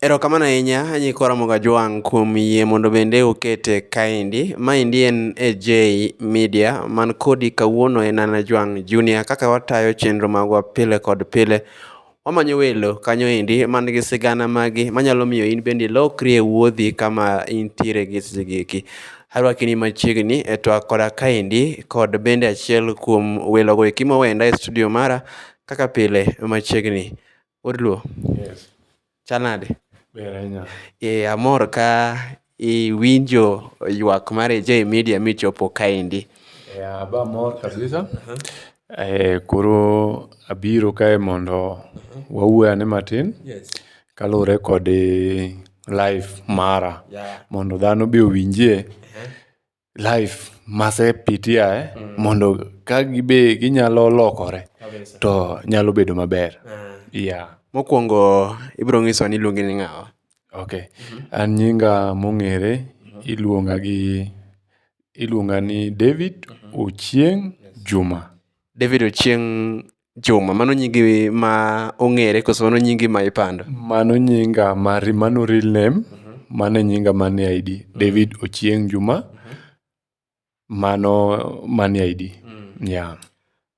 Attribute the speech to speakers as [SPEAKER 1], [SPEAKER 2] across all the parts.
[SPEAKER 1] Erokamano ahinya nyikwa Ramogi Ajwang' kuom yie mondo bende ukete kaendi. Maendi en AJ Media man kodi kawuono en an Ajwang' Junior kaka watayo chenro magwa pile kod pile. Wamanyo welo kanyo endi man gi sigana magi manyalo miyo in bende ilokri e wuodhi kama intiere gi seche gi eki. Arwaki ni machiegni e twak koda kaendi kod bende achiel kuom welogo eki mowenda e studio mara kaka pile machiegni. Oluo. Yes. Chal nade? Ber ahinya. Eh, amor ka iwinjo ywak mar AJ Media michopo kaendi. Yeah, aba amor kabisa. Eh, koro abiro kae mondo wawuo ane matin Yes. kaluwore kod eh, life mara Yeah. mondo dhano be owinjie life mase pitiae mondo ka gibe ginyalo lokore Kabisa. to nyalo bedo maber. Ah. Yeah. Mokwongo ibiro nyisowa ni iluongi ni ng'awa. Okay. An nyinga mong'ere iluonga gi iluonga ni David Ochieng Juma. David Ochieng' Chuma, mano nyingi ma ong'ere koso mano nyingi ma ipando? Mano nyinga mar, mano real name, mano e nyinga man e ID. David Ochieng Juma, mano man e ID. Yeah.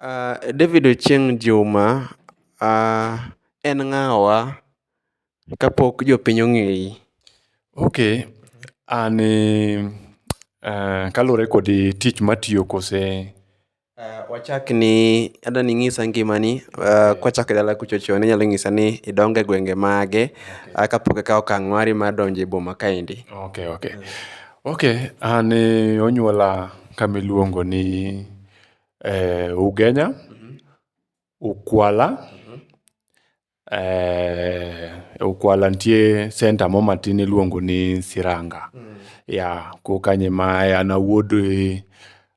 [SPEAKER 1] Ah, David Ochieng Juma, ah, en ng'awa kapok jopiny ong'eyi? Okay, an eh, kaluwore kod tich matiyo kose Wachak ni adwa ni inyisa ngimani kwachako e dala kucho chon inyalo nyisa ni idongo e gwenge mage kapok ikawo okang' mari mar donjo e boma kaendi. Ok ok, ok an onyuola kama iluongo ni Ugenya, Ukwala Eh, e Ukwala nitie senta mo matin iluongo ni Siranga. Ya, ko kanye ma an awuod, eh,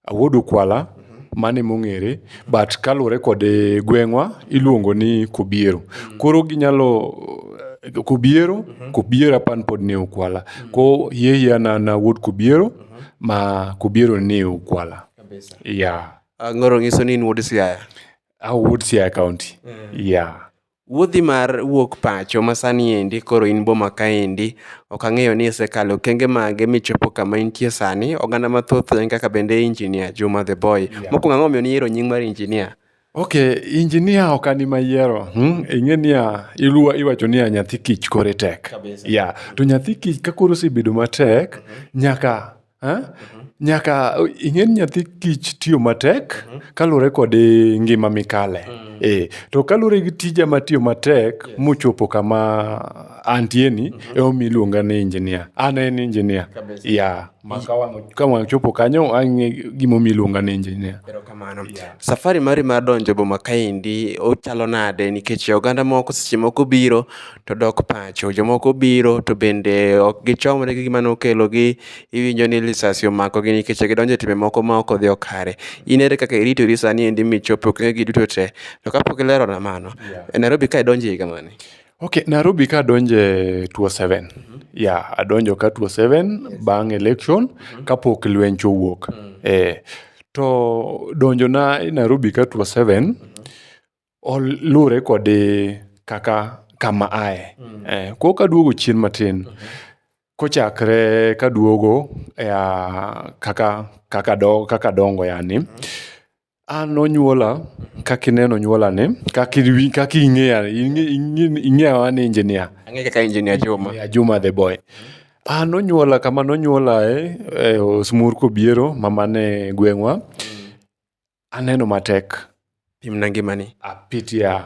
[SPEAKER 1] awuod Ukwala, mano emong'ere. But kaluwore kod eh, gweng'wa, iluongo ni Kobiero. Koro ginyalo, eh, Kobiero, Kobiero apan pod ni e Ukwala. Ko hie hie an an awuod Kobiero, ma Kobiero ni e Ukwala. Ya. Ah, ngoro ng'iso ni in wuod Siaya. I would say a county. Yeah. Wuodhi mar wuok pacho ma sani endi koro in boma kaendi, ok ang'eyo ni isekalo okenge mage michopo kama intie sani. Oganda mathoth en kaka bende Engineer Juma the Boy. Mokwongo ang'o momiyo niyiero nying mar Engineer? Okay, Engineer ok an ema ayiero. Hmm? Ing'e niya, iluwa iwacho niya nyathi kich kore tek. Yeah. To nyathi kich ka koro osebedo matek, nyaka Eh? Nyaka ing'e ni nyathi kich tiyo matek kaluwore kod eh, ngima mikale. Eh, to kaluwore gi tija ma tiyo matek mochopo kama antie ni emomiyo iluonga ni engineer. An en engineer. Kabisa. Yeah. Ma ka wang' ka wang' chopo kanyo ang'e gimomiyo iluonga ni engineer. Erokamano. Safari mari mar donjo e boma kaendi ochalo nade nikech oganda moko seche moko biro to dok pacho. Jomoko biro to bende ok gichomre gi gima nokelogi, iwinjo ni lisasi omakogi nikech gidonjo e timbe moko ma ok odhi kare. In ere kaka iritori sani endi michop e okenge gi duto te? To ka pok ilerona mano, e Nairobi ka idonjo e higa mane? Okay, Nairobi ka adonjo e 2007. Yeah, adonjo ka 2007 bang' election kapok lwench owuok. Eh, to donjona e Nairobi ka 2007, Luwore kod kaka kama aye. Koro kaduogo chien matin, kochakre kaduogo ea kaka kakado kakadongo yani, an nonyuola kakineno onyuola ni kakiwin kaking'eya ing'e ing'e ing'eya wa ni injinia. Ang'e kaka injinia Juma. Injinia Juma the boy. A nonyuola kama nonyuolae e osmur kobiero mama ne gweng'wa, Aneno matek. Pimna ngimani. Apitia.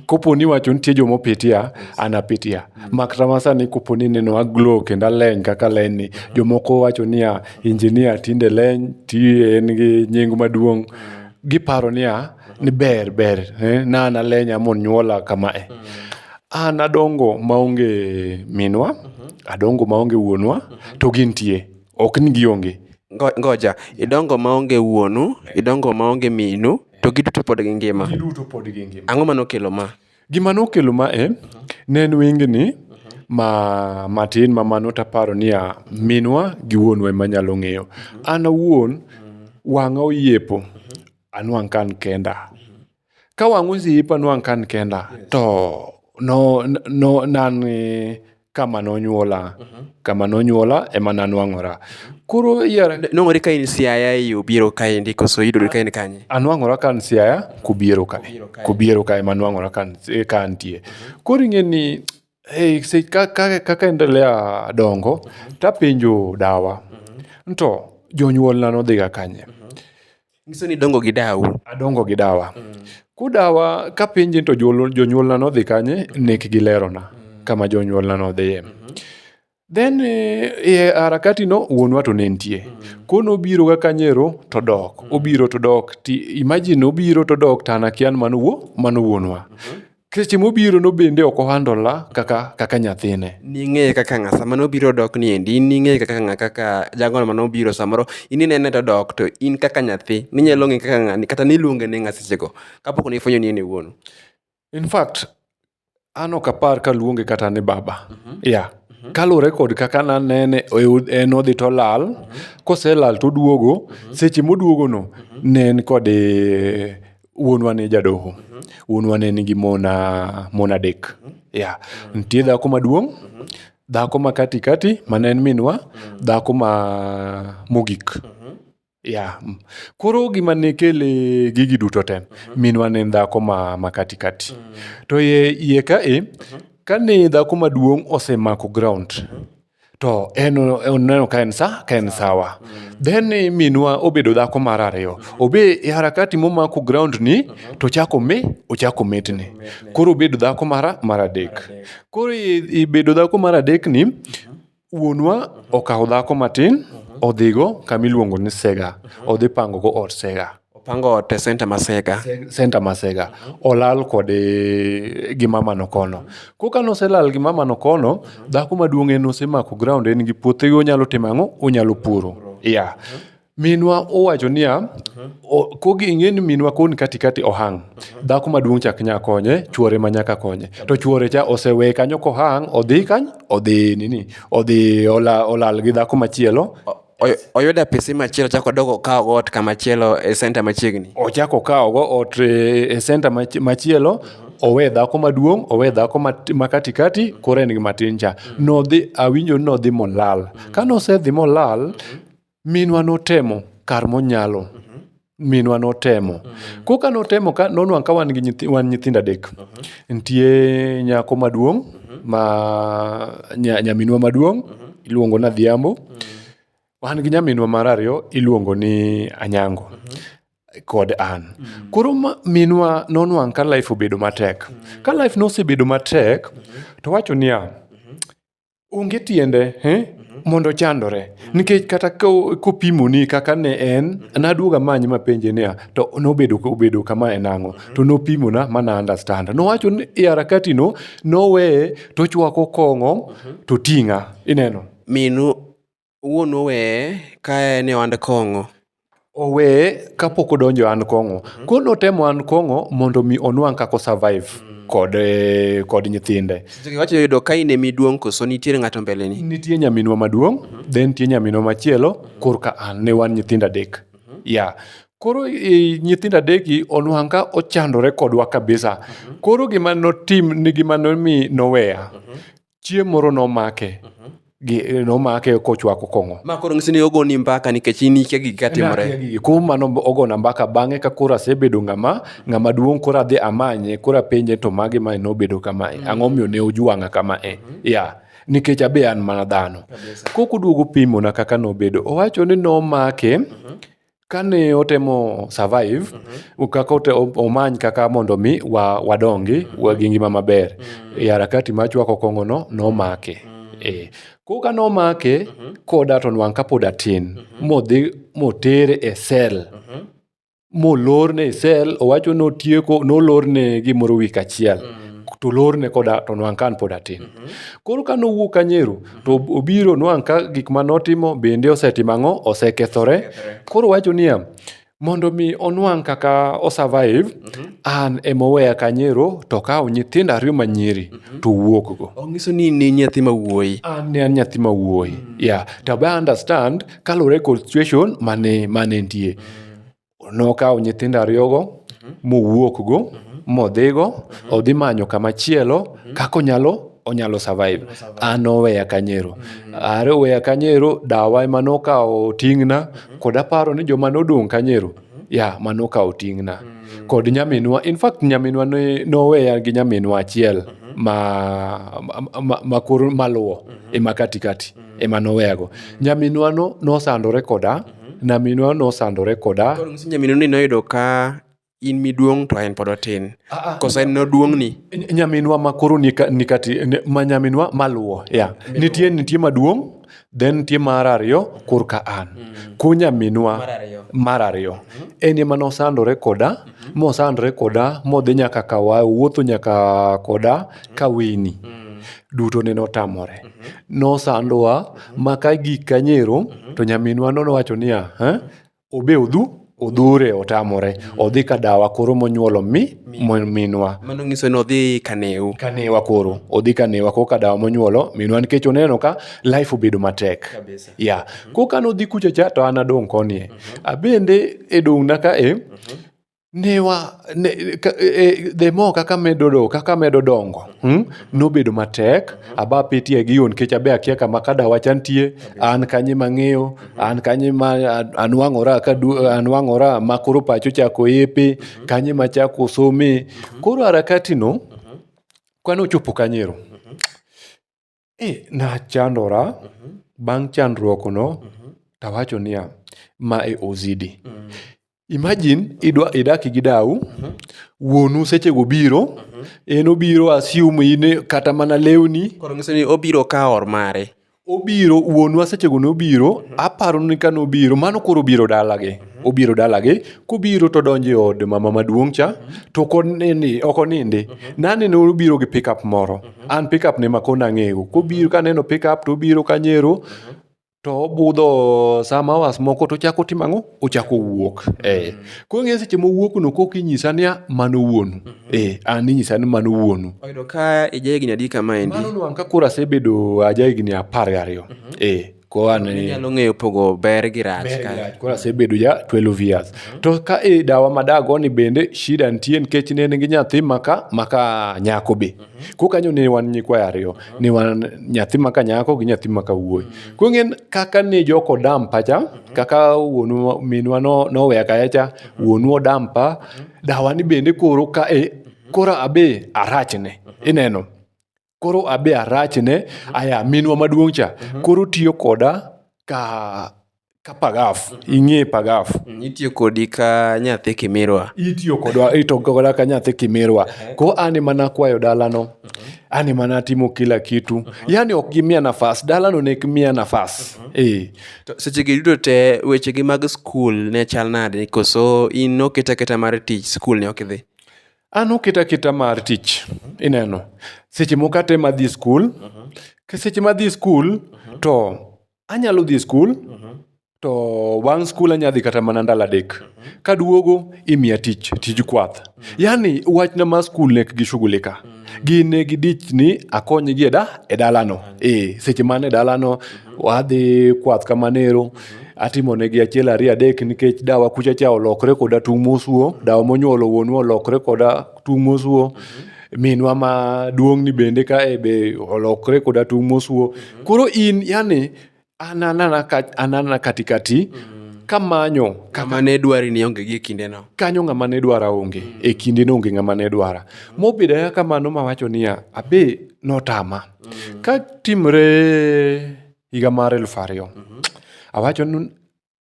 [SPEAKER 1] Kopo ni wacho nitie joma opitia, an apitia. Mak kama sani kopo ni neno aglo kendo aleny kaka leny ni. Jomoko wacho niya, injinia tinde leny, ti en gi nying maduong'. Giparo niya, ni ber ber, eh, na an alenya monyuola kama eh. An adongo maonge minwa, adongo maonge wuonwa, to gintie. Ok ni gionge. Ngoja, idongo maonge wuonu, idongo maonge minu, to giduto pod gingima. Giduto pod gingima. Ang'o ma nokelo ma? Gima nokelo ma e, ne en wengni ma matin ma mano taparo niya, minwa gi wuonwa ema nyalo ng'eyo. An awuon, wang'a oyepo, anwang' ka an kenda. Ka wang' osiepa ne wang' ka an kenda to no no ne an kama nonyuola, kama nonyuola ema ne anuang'ora. Koro iwinjo ni. Nuang'ori ka in Siaya ei Obiero kaendi koso iyudori ka in kanye? Anuang'ora ka an Siaya kObiero ka, kObiero ka ema anuang'ora ka antie. Koro ing'e ni kaka endelea dongo to apenjo dawa ni to jonyuolna ne odhiga kanye. Nyiso ni dongo gi dawu. Adongo gi dawa. Kudawa kapenje to jol- jonyuolna nodhi kanye, nek gilerona kama jonyuolna nodhiye. Then eh, e harakati no wuonwa to ne nitie. Kono obiro ga kanyero to dok. Obiro to dok. Ti, imagine obiro to dok to an akia ni mano wuo, mano wuonwa. Seche mobiro no bende ok ohandola kaka kaka nyathine. Ning'eye kaka ng'a sama nobiro dok ni endi in ning'eye kaka ng'a kaka jagono mane obiro samoro in inene to odok to in kaka nyathi ninyalo ng'e kaka ng'ani kata niluonge ni ng'a seche go kapok ne ifwenyo ni en e wuonu. In fact, an ok apar kaluonge kata ni baba. Yeah. Kaluwore kod kaka nanene e od- en odhi tolal, koselal toduogo, seche moduogono ne en kod eh, wuonwa ne jadoho wuonwa ne nigi mon ah, mon adek ya nitie dhako maduong' dhako ma kati kati ma ne en minwa dhako ma mogik ya mm. koro gima ne kele gigi duto te minwa ne en dhako ma, ma kati kati to iye iye ka e kane dhako maduong' osemako ground to en oneno ka en sa ka en sawa then minwa obedo dhako mar ariyo obe e harakati momako ground ni to chako me ochako metni koro obedo dhako mar mar adek koro ibedo dhako mar adek ni wuonwa okawo dhako matin odhigo kama iluongo ni sega odhi pango go od sega Opango ot e center ma Sega. Center ma Sega. Olal kod e, gi mama no kono. Koka noselal gi mama no kono, dhako maduong' en osemako ground en gi puothe onyalo timo ang'o? Onyalo puro. Yeah. Minwa owacho niya, o- kogi ing'e ni minwa koni kati kati ohang'. Dhako maduong' chak nya konye, chuore ma nyaka konye. To chuore cha osewe kanyo kohang', odhi kany, odhi nini, odhi ola, olal gi dhako machielo. Oyudo apisi machielo ochako odok okawo go ot kamachielo e center machiegni. Ochako okawo go ot e center machielo, owe dhako maduong', owe dhako ma kati kati, koro en gi matin cha. Nodhi awinjo ni nodhi molal. Kanosedhi molal, minwa notemo kar monyalo. minwa notemo mm -hmm. koka notemo ka nonwang' ka wan gi nyithi, wan nyithindo adek mm -hmm. nitie nyako maduong' mm -hmm. ma nya, nyaminwa maduong' mm -hmm. iluongo na dhiambo mm -hmm. wan gi nyaminwa mar ariyo iluongo ni anyango mm -hmm kod an mm -hmm. koro minwa nonwang' ka life obedo matek mm -hmm. ka life nosebedo matek mm -hmm. to wacho niya mm -hmm. onge tiende eh? mondo ochandore nikech kata ko- kopimoni kaka ne en naduoga many mapenje niya to nobedo obedo kama e nang'o to nopimona ma na understand nowacho ni e harakatino noweye tochwako kong'o to ting'a ineno Minu Owuon oweye ka en e ohand kong'o. Oweye ka pok odonjo e ohand kong'o. Koro ne otemo ohand kong'o mondo omi onwang' kaka o survive kod nyithinde. Seche go iwacho yudo ka in e miduong' koso nitiere ng'ato mbele ni? Nitie nyaminwa maduong', then nitie nyaminwa machielo korka an. Ne wan nyithindo adek. Yeah. Koro e nyithindo adek gi, onwang' ka ochandore kodwa kabisa. Koro gima notim, gima nomi noweya, chieng' moro nomake gi- nomake kochwako kong'o Ma koro ng'isi ni ogoni mbaka nikech in ikia gik katimore. kuom mano ogona mbaka bang'e ka koro asebedo ng'ama ng'ama duong' koro adhi amanye koro apenje to magi mae nobedo kamae ang'o miyo ne ojwang'a kamae ya nikech abe an mana dhano kok oduogo pimona kaka nobedo owacho ni nomake kane otemo survive mm -hmm. kaka ote, omany kaka mondo mi wa, wadongi mm -hmm. wagi ngima maber mm -hmm. e harakati ma chwako kongo no nomake mm -hmm. e koka nomake mm -hmm. koda to nwang kapod atin mm -hmm. modhi motere e sel mm -hmm. molorne e sel owacho notieko nolorne gimoro wik achiel mm -hmm. to lorne koda to nwang kan pod atin mm -hmm. koro ka nowuok kanyeru to obiro nwang' ka gik ma notimo bende osetimo ang'o osekethore koro wacho niya mondo mi onwang' kaka o survive an ema oweya kanyero to okawo nyithindo ariyo ma nyiri to owuok go Ong'iso ni in nyathi ma wuoyi. an ne an nyathi ma wuoyi yeah to be I understand kaluwore kod situation mane mane nitie nokawo nyithindo ariyogo mowuokgo modhigo odhi manyo kamachielo kaka onyalo onyalo survive. An noweya kanyero. Are oweya kanyero, dawa ema nokawo ting'na kod aparo ni joma nodong' kanyero ya ma nokawo ting'na. Kod nyaminwa, in fact nyaminwa ne noweya gi nyaminwa achiel ma ma ma koro maluwo e ma kati kati. ema noweyago. Nyaminwa no nosandore koda, nyaminwa nosandore koda. Koro ng'isi nyaminwa ni noyudo ka in miduong' to en pod otin. Ah, ah, Koso en noduong'ni. Ny- Nyaminwa ma koro ni ka- ni kati, ni- ma nyaminwa maluwo, ya. Nitie, nitie maduong', then nitie mar ariyo korka an. Ko nyaminwa Mar ariyo. mar ariyo en ema nosandore koda mosandore koda modhi nyaka kawa wuotho nyaka koda kaweni duto nene otamore. Nosandowa ma ka gik ka nyero to nyaminwa no nowacho niya, "Eh, obe odhu odhure otamore. Odhi ka dawa koro monyuolo mi mo- minwa. Mano nyiso ni odhi kaneu. Kanewa koro, odhi kanewa koro ka dawa monyuolo minwa nikech oneno ka life obedo matek. Kabisa. Ya, koro ka nodhi kucha cha to an adong' koni e. Abende e dong'na ka e, ne wa ne, e, the more kaka medo do kaka medo dongo hmm? nobedo matek aba pitie gi yon kech abe akia kama kada wacha nitie an kanye mang'eyo an kanye ma an- anwang'ora ka du- anwang'ora ma koro pacho chako epe kanye ma chako some koro harakati no kane ochopo kanyero E, nachandora mhm. bang' chandruokno mhm. tawacho niya ma e ozidi mhm. imagine idwa idaki gi dau wuonu sechego biro en obiro asium in kata mana lewni koro nyiso ni obiro ka or mare obiro wuonwa sechego nobiro aparo ni ka nobiro mano koro obiro dalagi obiro dalagi kobiro to donjo e od mama maduong' cha to ok onindi ok onindi naneno obiro gi pickup moro an pickup ne ma kona ang'eyo kobiro kaneno pickup to obiro kanyero to obudho some hours moko to ochako timo ang'o ochako wuok eh. koro ng'e seche mowuokno kok inyisa niya mano wuonu eh, an inyisa ni mano wuonu oyudo ka ija higni adi kama endi mano nwang' ka koro asebedo aja higni apar gariyo eh. Koro an e- Inyalo ng'eyo pogo ber gi rach Ber ka. gi rach. Koro asebedo ja 12 years. To ka e dawa ma dagoni bende shida nitie nikech ne en gi nyathi maka maka nyako be. Koro kanyo ne wan nyikwayo ariyo. Ne wan nyathi maka nyako gi nyathi maka wuoyi. Koro ing'eni kaka ne joko dampa cha, kaka wuonwa minwa no- noweya kaya cha, wuonu odampa, dawani bende koro ka e koro abe arachne. Ineno? koro abe arachne mhm. aya minwa maduong' cha mhm. koro tiyo koda ka ka pagaf mhm. ing'e pagaf mm, itiyo kodi ka nyathi kimirwa itiyo kodwa ito koda ka nyathi kimirwa ko an ema nakwayo dalano an ema natimo kila kitu yani ok gimiya nafas dalano ne ok miya nafas eh. to seche gi duto te wechegi mag skul ne chal nade koso in noketa keta mar tich skul ne ok idhi an oketa aketa mar tich ineno seche moko kata ema dhi skul Ke seche ma dhi skul to anyalo dhi skul to bang' skul anyalo dhi kata mana ndalo adek kaduogo imiya tich tij kwath yani wachna ma skul ne gi shughuli ka gin ne gi dich ni akonygi e da e dalano eh seche man e dalano wadhi kwath kamanero atimo negi achiel ariyo adek nikech dawa kucha cha olokre koda tung' mosuo dawa monyuolo wuonwa olokre koda tung' mosuo minwa ma duong'ni bende kae be olokre koda tung' mosuo koro in yani an anana ka- an anana katikati kamanyo Kama ne dwari ni onge gi e kindeno. kanyo ng'ama ne dwara onge e kinde no onge ng'ama ne dwara mobedo ayaka kamano mawacho niya abe notama ka timre Higa mar elfu ariyo. Awacho ni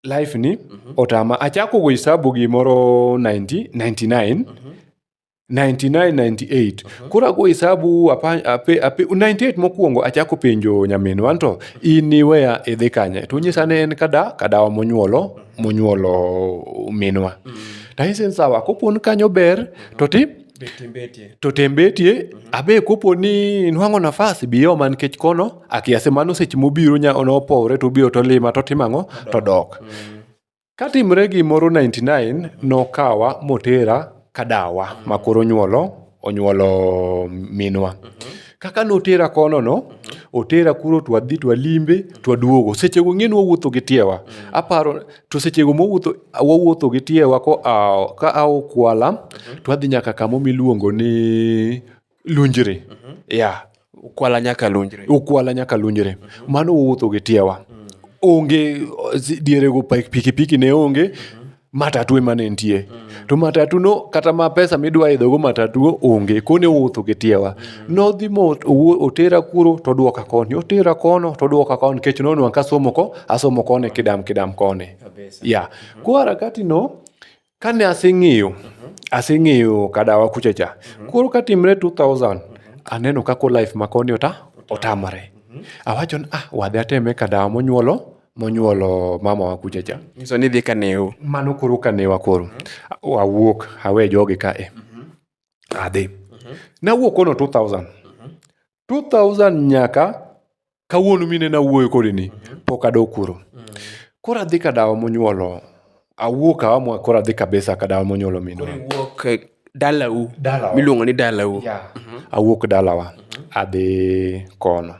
[SPEAKER 1] life ni otama. Achako go hisabu gimoro 90, 99. 99, 98. Koro ago hisabu apa, ape, ape, 98 mokwongo achako penjo nyaminwa nto in iweya idhi kanye. To nyisa ne en kada, kadawa monyuolo, monyuolo minwa. Taise ni sawa, kopon kanyo ber, to ti to tem betie mhm. abe kopo ni inwang'o nafas biyoma nikech kono akiase mano seche mobiro nopowre to obiro to lima to timo ang'o to dok mhm. katimre gimoro 99 nokawa motera kadawa mhm. makoro nyuolo onyuolo minwa kaka notera kono no otera kuro twadhi twalimbe twaduogo sechego ng'e nwawuotho gi tiewa aparo To sechego mowuotho wawuotho gi tiewa koa ka a Okwala to adhi nyaka kamo miluongo ni Lunjre. Yeah. Ukwala nyaka lunjre. Ukwala nyaka Lunjre. Mano wawuotho gi tiewa. Onge si- dierego pa- pikipiki ne onge matatu ema ne nitie. To matatu no kata ma pesa midwa idhogo matatu onge. Kone wawuotho gi tiewa. Nodhi mo owuo- otera kuro to odwoka koni, otera kono to odwoka koni nikech nonwang' kasomo ko asomo koni kidam kidam koni. Kabisa. Ya. Koro harakati no kane aseng'eyo, aseng'eyo kadawa kucha cha. Koro katimre 2000 aneno kako life ma koni ota otamore. Awacho ni ah wadhi ateme kadawa monyuolo monyuolo mama wa kucha cha. Nyiso ni idhi ka neu. Mano koro kanewa koro. Awuok awe jogi ka e. adhi. Nawuok kono 2000. 2000 nyaka kawuono mine nawuoyo kodini, pok adok kuro. Koro adhi ka dawa monyuolo, awuok awa mwa koro adhi kabisa ka dawa monyuolo minwa. Wuok eh, dalau. Dalawa. Miluongo ni dalau. Yeah. Awuok dalawa, adhi kono.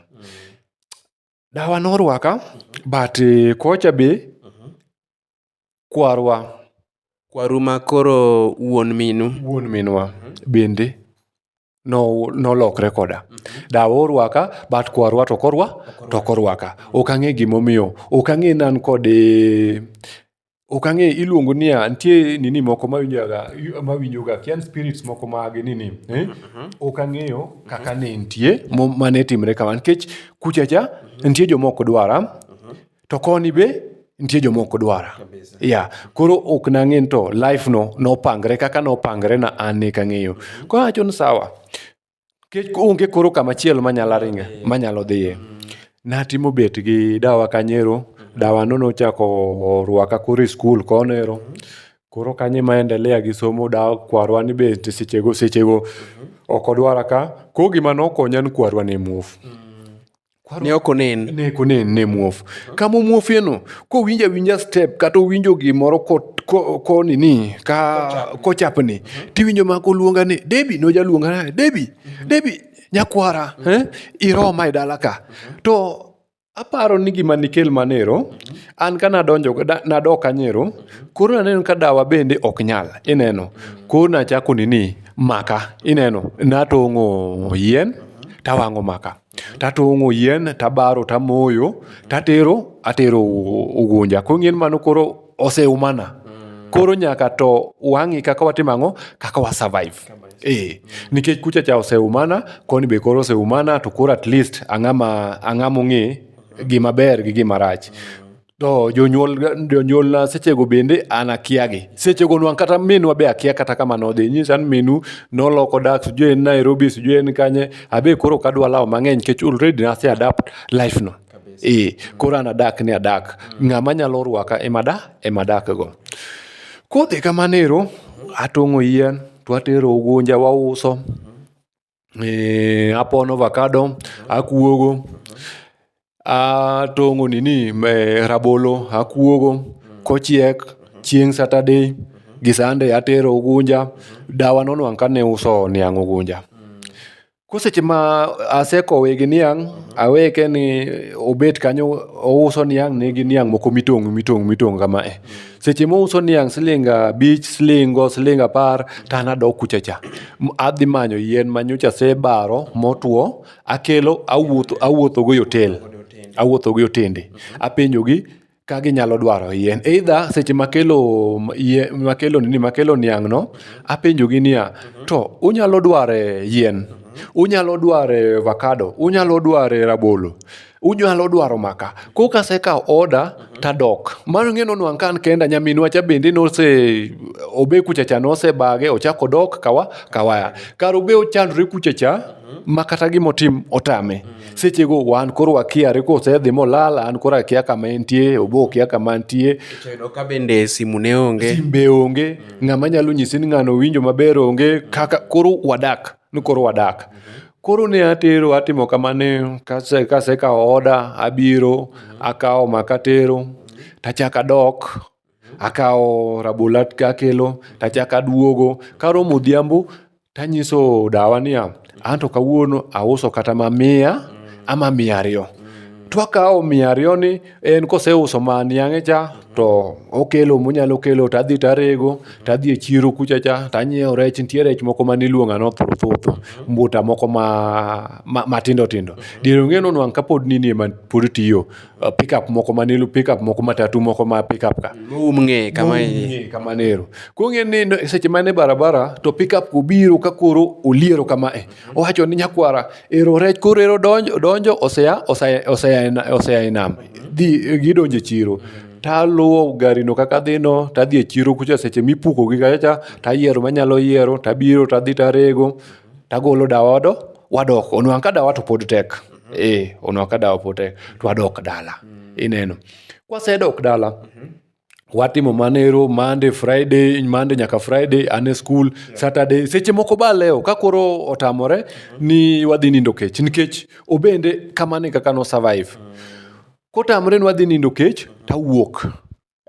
[SPEAKER 1] Dawa norwaka, but eh, kocha be kwarwa. Kwaru ma koro wuon minu. Wuon minwa bende nolokre koda. Dawa orwaka but kwarwa to ok orwaka. Ok ang'e gimomiyo. Ok ang'e ni an kode. Ok ang'e iluongo niya nitie nini moko mawinjaga mawinjoga akia ni spirits moko ma gi nini. Ok ang'eyo kaka ne entie mane timre kamano nikech kucha cha nitie joma ok dwara. to koni be nitie jomoko dwara Kabisa. ya koro ok nang'e ni to life no nopangre kaka nopangre na an ne kang'eyo koro acho ni sawa kech onge koro kama chielo manyalo ringa manyalo dhiye natimo bet gi dawa kanyero dawa no nochako rwaka koro e skul konero koro kanye ma endelea gi somo dawa kwarwa ni be nti sechego sechego ok odwara ka ko gima nokonya ni kwarwa ne muofu ne ok onen ne ok onen ne muofu kama omuofieno kowinjo awinja step kata owinjo gimoro konini ka kochapni tiwinjo ma koluonga ni debi nojaluonga ni debi debi nyakwara eh, iroma e dala ka to aparo ni gima nikel manero an ka nadonjo nadok anyero koro naneno ka dawa bende ok nyal ineno koro nachako nini maka ineno natong'o yien tawang'o maka tatong'o yien tabaro tamoyo tatero atero u- ugunja koro ng'en mano koro oseumana koro nyaka to wang'i kaka watimo ang'o kaka wa survive eh nikech kucha cha oseumana koni be koro oseumana to koro at least ang'ama ang'ama ong'e gima ber gi gima rach To jonyuol jonyuolna sechego bende an akiagi. Sechego nwang' kata minwa be akia kata kama nodhi. Inyisa ni minu noloko dak sijui en Nairobi sijui en kanye, abe koro ok adwa lawo mang'eny nikech already nase adapt life no. Ee, koro an adak ni adak. Ng'ama nyalo rwaka ema da ema dakgo. Kodhi kamano ero, atong'o yien to atero Ugunja wauso. eh, apono avakado akuogo atong'o nini eh, rabolo akuogo kochiek chieng' saturday gi sunday atero ugunja dawa nonwang' kane uso niang' ugunja ko seche ma asekowe gi niang' aweke ni obet kanyo ouso niang' ne gi niang' moko mitong'o mitong'o mitong'o kama eh. seche mouso niang' siling abich silingo siling apar to an adok kucha cha adhi manyo yien ma nyocha asebaro motwo akelo awuotho awuothogo e otel awuothogo e otende apenjogi ka ginyalo dwaro yien either seche makelo yie- makelo nini makelo niang'no apenjogi niya to unyalo dware yien unyalo dware avocado unyalo dware rabolo unyalo dwaro maka ko kasekawo oda tadok mano ng'e nonwang' ka an kenda nyaminwa cha bende nose obe kucha cha nosebage ochako odok kawa kawaya kar obe ochandore kucha cha ma kata gima otim otame sechego wan koro wakiare kosedhi molal an koro akia kama entie obe okia kama antie To yudo ka bende simu ne onge. simbe onge ng'ama nyalo nyisi ni ng'ano winjo maber onge kaka koro wadak ni koro wadak. Koro ne atero atimo kamano kase kasekawo oda abiro akawo maka atero tachako adok akawo rabolo akelo tachako aduogo. Karomo odhiambo tanyiso dawa niya, anto kawuono auso kata ma miya ama miya ariyo. Twakawo miya ariyoni en koseuso ma niang'e cha to okelo monyalo kelo to adhi to arego to adhi e chiro kucha cha to anyiewo rech nitie rech moko mane iluonga ni othuthu mbuta moko ma ma matindo tindo diere ong'e ni onwang' kapod nini ema pod tiyo pickup moko mane ilu pickup moko matatu moko ma pickup ka Moum ng'eye kama Ng'eye kamano ero koro ing'e ni seche ma en e barabara to pickup obiro ka koro oliero kama e Owacho ni nyakwara, ero rech koro ero donjo, donjo osea, osea, osea, osea e nam. Dhi, gidonjo e chiro. Taluwo garino kaka adhino, tadhi e chiro kucha seche mipuko gi kacha cha, tayiero manyalo yiero, tabiro tadhi tarego, tagolo dawa wado, wadok. Onwang' ka dawa to pod tek. Eh, onwang' ka dawa pod tek. To wadok dala. Ineno. Kwasedok dala, watimo manero mande friday mande nyaka friday ane skul yeah. saturday seche moko ba leo ka koro otamore mm -hmm. ni wadhi nindo kech nikech obende kamane kaka no survive mm -hmm. kotamore ni wadhi nindo kech mm -hmm. tawuok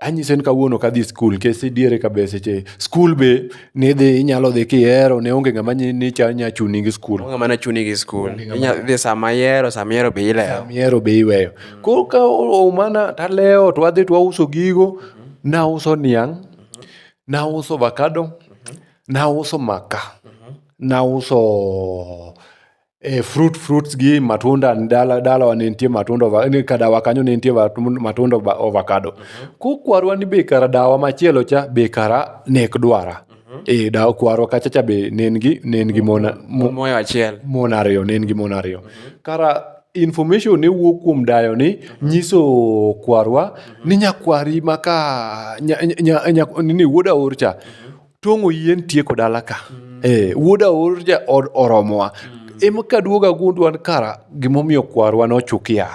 [SPEAKER 1] anyise ni kawuono kadhi skul nikech idiere kabe seche skul be nidhi inyalo dhi kihero ne onge ng'ama nya chuni gi skul onge ng'ama na chuni gi skul idhi sama ihero sama ihero be ilewo sama ihero be iweyo Koro ka oumana talewo to wadhi to wauso gigo. Nauso niang', nauso ovakado, nauso maka, nauso eh, fruit fruits gi matunda dala dalawa ne nitie matunda ova- ni ka dawa kanyo ne nitie vatun- matunda ova- ovakado. Kokwarwa ni be kara dawa machielo cha be kara nek dwara. e dawo kwarwa kacha cha be ne en gi ne en gi mon mo- moyo achiel mon ariyo ne en gi mon ariyo kara information ne wuok kuom dayo ni nyiso kwarwa ni nyakwari ma ka nya- nya- nya- nya- ni wuod aor cha tong'o yien tieko dala ka Eh, wuod aor cha or- oromowa em kaduoga gundwan kara gimomiyo kwarwa nochukia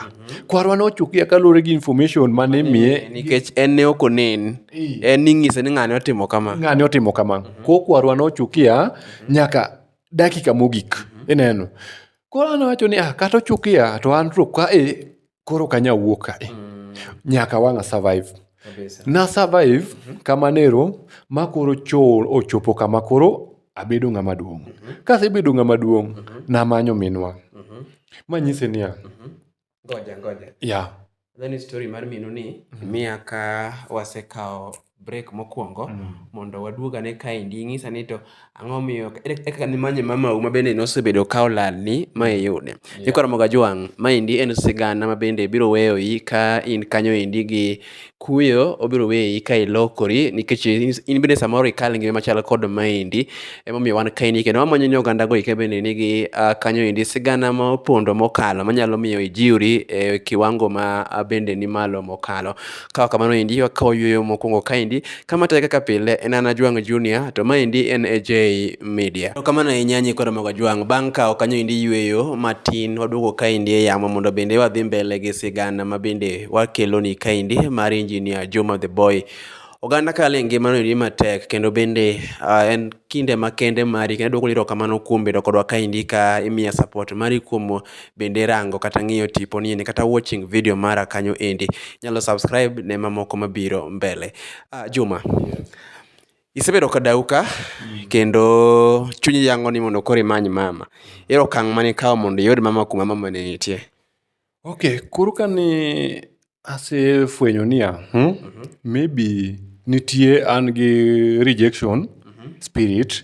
[SPEAKER 1] kwarwa nochukia kaluwore gi information ma ne miye nikech en ne ok onen en ning'ise ni ng'ane otimo kama ng'ane otimo kama ko kwarwa nochukia nyaka dakika mogik ineno koro an awacho ni ah, kata ochukia to an to ka e koro kanya wuok ka e nyaka wang'a survive na survive kamanero ma koro cho ochopo kama koro abedo ng'ama duong'. Kasebedo ng'ama duong', namanyo minwa. Manyise niya, Ngoja, ngoja. ya, Then story mar minu ni miya ka wasekawo break mokwongo mondo waduog ane kaendi ing'isa ni to ang'o miyo ere kaka nimanye mamau ma bende nosebedo ka olalni ma iyude ikoromoga jwang' maendi en sigana ma bende biro weyoyi ka in kanyo endi gi Kuyo obiro weyi ka ilokori nikech in bende samoro ikal ngima machal kod maendi emomiyo wan kaendi kendo wamanyo ni oganda go eki bende nigi uh, kanyo endi sigana ma opondo mokalo manyalo miyo ijiwri e kiwango ma bende ni malo mokalo. Kawa kamano endi wakawo yueyo mokwongo kaendi Kama tee kaka pile en an Ajwang' Junior to maendi en AJ Media. Erokamano ahinya nyikwa Ramogo Ajwang'. Bang' kawo kanyo endi yueyo matin waduogo kaendi e yamo mondo bende wadhi mbele gi sigana ma bende wakeloni kaendi mar Engineer Juma the Boy. Oganda kale e ngimano endi matek kendo bende ah, en kinde makende mari kendo aduoko ni erokamano kuom bedo kodwa kaendi ka imiya support mari kuom bende rango kata ng'iyo tipo ni endi kata watching video mara kanyo endi. Inyalo subscribe ne mamoko mabiro mbele. Ah, Juma, isebedo ka dau ka kendo chunyi yango ni mondo koro imany mama. Ere okang' mane ikawo mondo iyud mama kuma mama ne nitie? Okay, koro kane asefwenyo niya, hmm, maybe nitie an gi rejection spirit,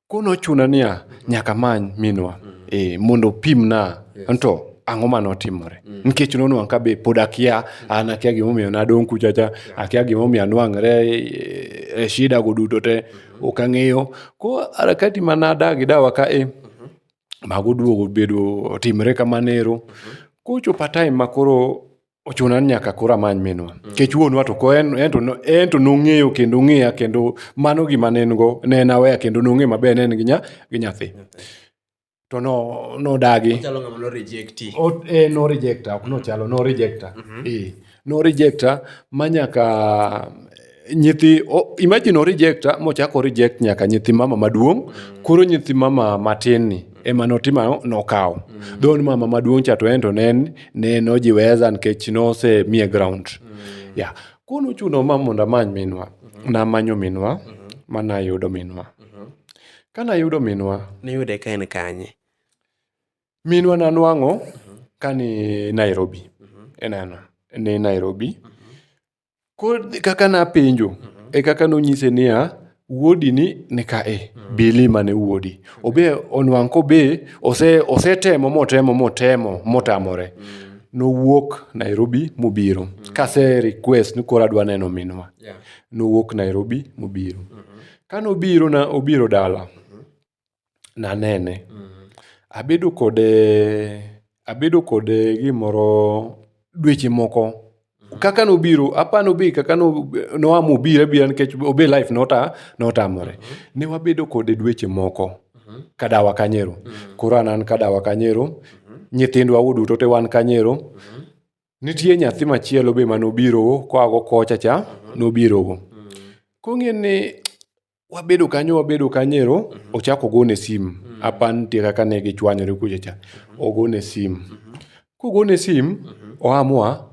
[SPEAKER 1] Koro nochuna niya, nyaka amany minwa eh, mondo opimna anto ang'o mane otimore. Nikech nonwang' ka be pod akia, an akia gimomiyo nadong' kucha cha, akia gimomiyo anwang're e- e shida go duto te, ok ang'eyo. Koro harakati ma nadagi dawa ka e, mago oduogo obedo otimre kamano ero. Kochopo a time ma koro ochuna ni nyaka koro amany minwa mm. nikech wuonwa to ko en to nong'eyo kendo ng'eya kendo mano gima ne en go ne en aweya kendo nong'eyo maber ne en gi nyathi to no no dagi chalo ngama no rejecti o e no rejecta ok no chalo no rejecta mm -hmm. e no rejecta manyaka nyithi o, imagine orejecta mochako reject nyaka nyithi mama maduong koro nyithi mama matin ni ema notima nokawo dho ni mama maduong cha to en to ne en- ne nojiweza nikech nose miye ground ya koro nochuno ma mondo amany minwa namanyo minwa ma nayudo minwa ka nayudo minwa niyude ka en kanye minwa nanwang'o ka ni nairobi ineno ni nairobi Koro kaka napenjo mm -hmm. e kaka nonyise niya wuodi ni ni kae mm -hmm. bili mane wuodi obe onwang' kobe ose osetemo motemo motemo motamore mm -hmm. nowuok Nairobi mobiro mm -hmm. kase request ni koro adwa neno minwa yeah. nowuok Nairobi mobiro mm -hmm. ka nobiro na obiro dala mm -hmm. nanene. Abedo kode, abedo kode gimoro dweche moko. Kaka nobiro, apa ni obi kaka noa mobiro abira nikech obi e life notamore. Ne wabedo kode dweche moko ka dawa kanyo ero. Koro an an ka dawa kanyo ero, nyithindwa waduto te wan kanyo ero. Nitie nyathi machielo be mane obiro koa go kocha cha, nobiro go. Koro ing'e ni wabedo kanyo wabedo kanyero mm -hmm. ochako ogone sim mm -hmm. apa nitie kaka ne gichwanyore kuchecha mm -hmm. ogone sim mm -hmm. kogone sim mm -hmm. oamua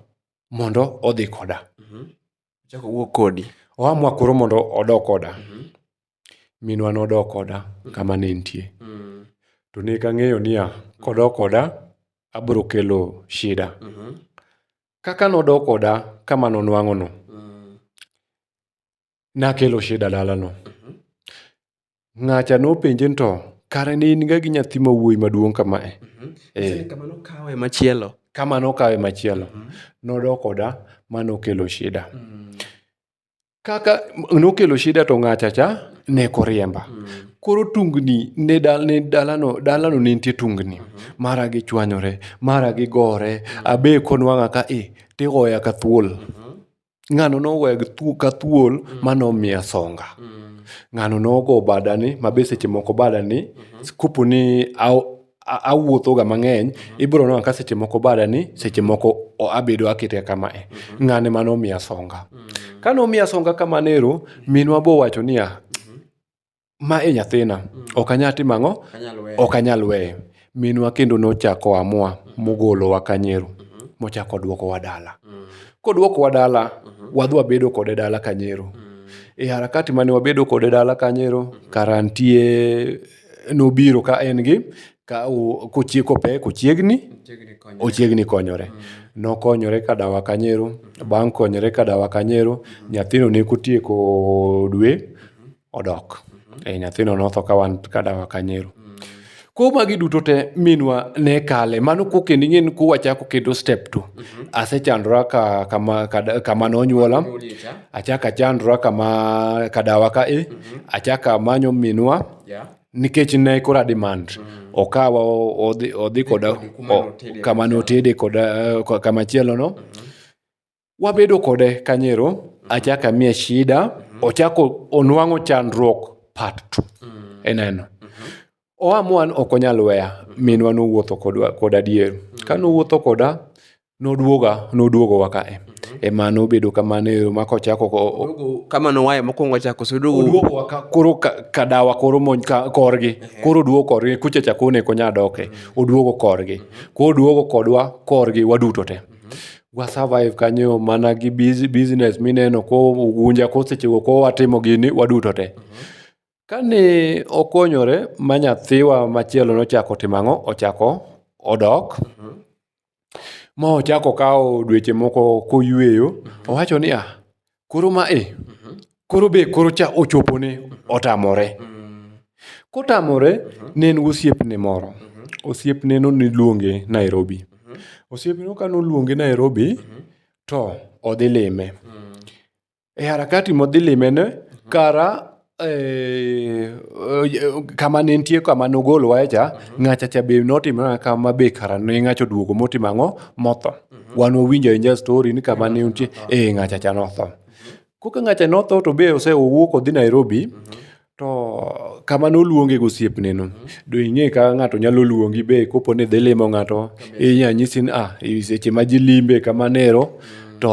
[SPEAKER 1] mondo odhi koda mm -hmm. ochako wuok kodi oamua koro mondo odok koda mm -hmm. minwa nodok koda mm -hmm. kama ne nitie mm -hmm. to ne kang'eyo niya kodok koda abiro kelo shida mm -hmm. kaka nodok koda kama nonwang'ono mm -hmm. nakelo shida dalano. Ng'acha nopenje ni to kare ne in ga gi nyathi ma wuoyi maduong' kamae. Eh. Kama nokawe machielo. Kama nokawe machielo. Nodok oda ma nokelo shida. Kaka nokelo shida to ng'acha cha ne koriemba. Koro tungni ne dal- ne dalano dalano ne nitie tungni. Mara gichwanyore, mara gigore, abe konwang'a ka i tigoya ka thuol. ng'ano noweg ka thuol mm. ma nomiya songa mm. ng'ano nogo badani ma be seche moko badani mm-hmm. kopo ni awuothoga mang'eny mm-hmm. ibiro nona ka seche moko badani seche moko abedo akete kama e mm-hmm. ng'ane ma nomiya songa mm. ka nomiya songa kamanero minwa bowacho niya ma e nyathina, ok anyal timo ang'o? Ok anyal weye. Minwa kendo nochako amua mogolowa Kanyero mochako odwokowa dala. Kodwokowa dala, wadhi wabedo kode dala Kanyero. E harakati mane wabedo kode dala Kanyero, kara nitie nobiro ka en gi ka kochieko pek ochiegni ochiegni konyore. Nokonyore ka dawa Kanyero, bang' konyore ka dawa Kanyero, nyathino ne kotieko dwe odok. E, nyathino notho ka wan ka dawa ka nyiru. Ko magi duto te minwa ne kale mano ko kendo ing'e ni ko wachako kendo step two asechandora ka kama ka- kama nonyuola achaka chandora kama kadawa ka e achaka manyo minwa Yeah. nikech ne kora demand okawa o- odhi odhi koda Kodi kuma o- notede. kama notede koda eh, ko- kama chielo no wabedo kode kanyero achak amiye shida ochako onwang'o chandruok part two ineno oamua ni ok onyal weya minwa nowuotho kodwa kod adier ka nowuotho koda nodwoga nodwogowa kae ema nobedo kamano ero ma kochako o- o- Oduogo kama nowaye mokwongo chako so oduogo odwogowa ka- koro ka- kadawa koro mony ka- korgi koro odwogo korgi kuchecha kone konya doke odwogo korgi koro odwogo kodwa korgi waduto te wa survive kanyo mana gi biz- business mineno ko gunja ko sechego ko watimo gini waduto te kane okonyore ma nyathiwa machielo nochako timo ang'o ochako odok ma ochako kawo dweche moko koyweyo owacho ni ah Koro ma e, koro be koro cha ochopone, otamore. Kotamore, ne en gosiepne moro. Osiepneno niluonge Nairobi. Osiepneno ka noluonge Nairobi, to odhi lime. E harakati modhi limeno, kara Eh, eh, kama ne nitie kama nogol wae cha mhm. ng'acha cha be notimo na kama be kara ne ng'acha oduogo motimo ang'o motho mhm. wan wawinjo inja story ni kama ne nitie mhm. eh ng'acha cha notho koka ng'acha notho to be ose owuok odhi Nairobi to kama noluonge gosiepne no do ing'e ka ng'ato nyalo luongi be kopo ni dhi limo ng'ato inya nyisi ni ah seche ma ji limbe kama nero to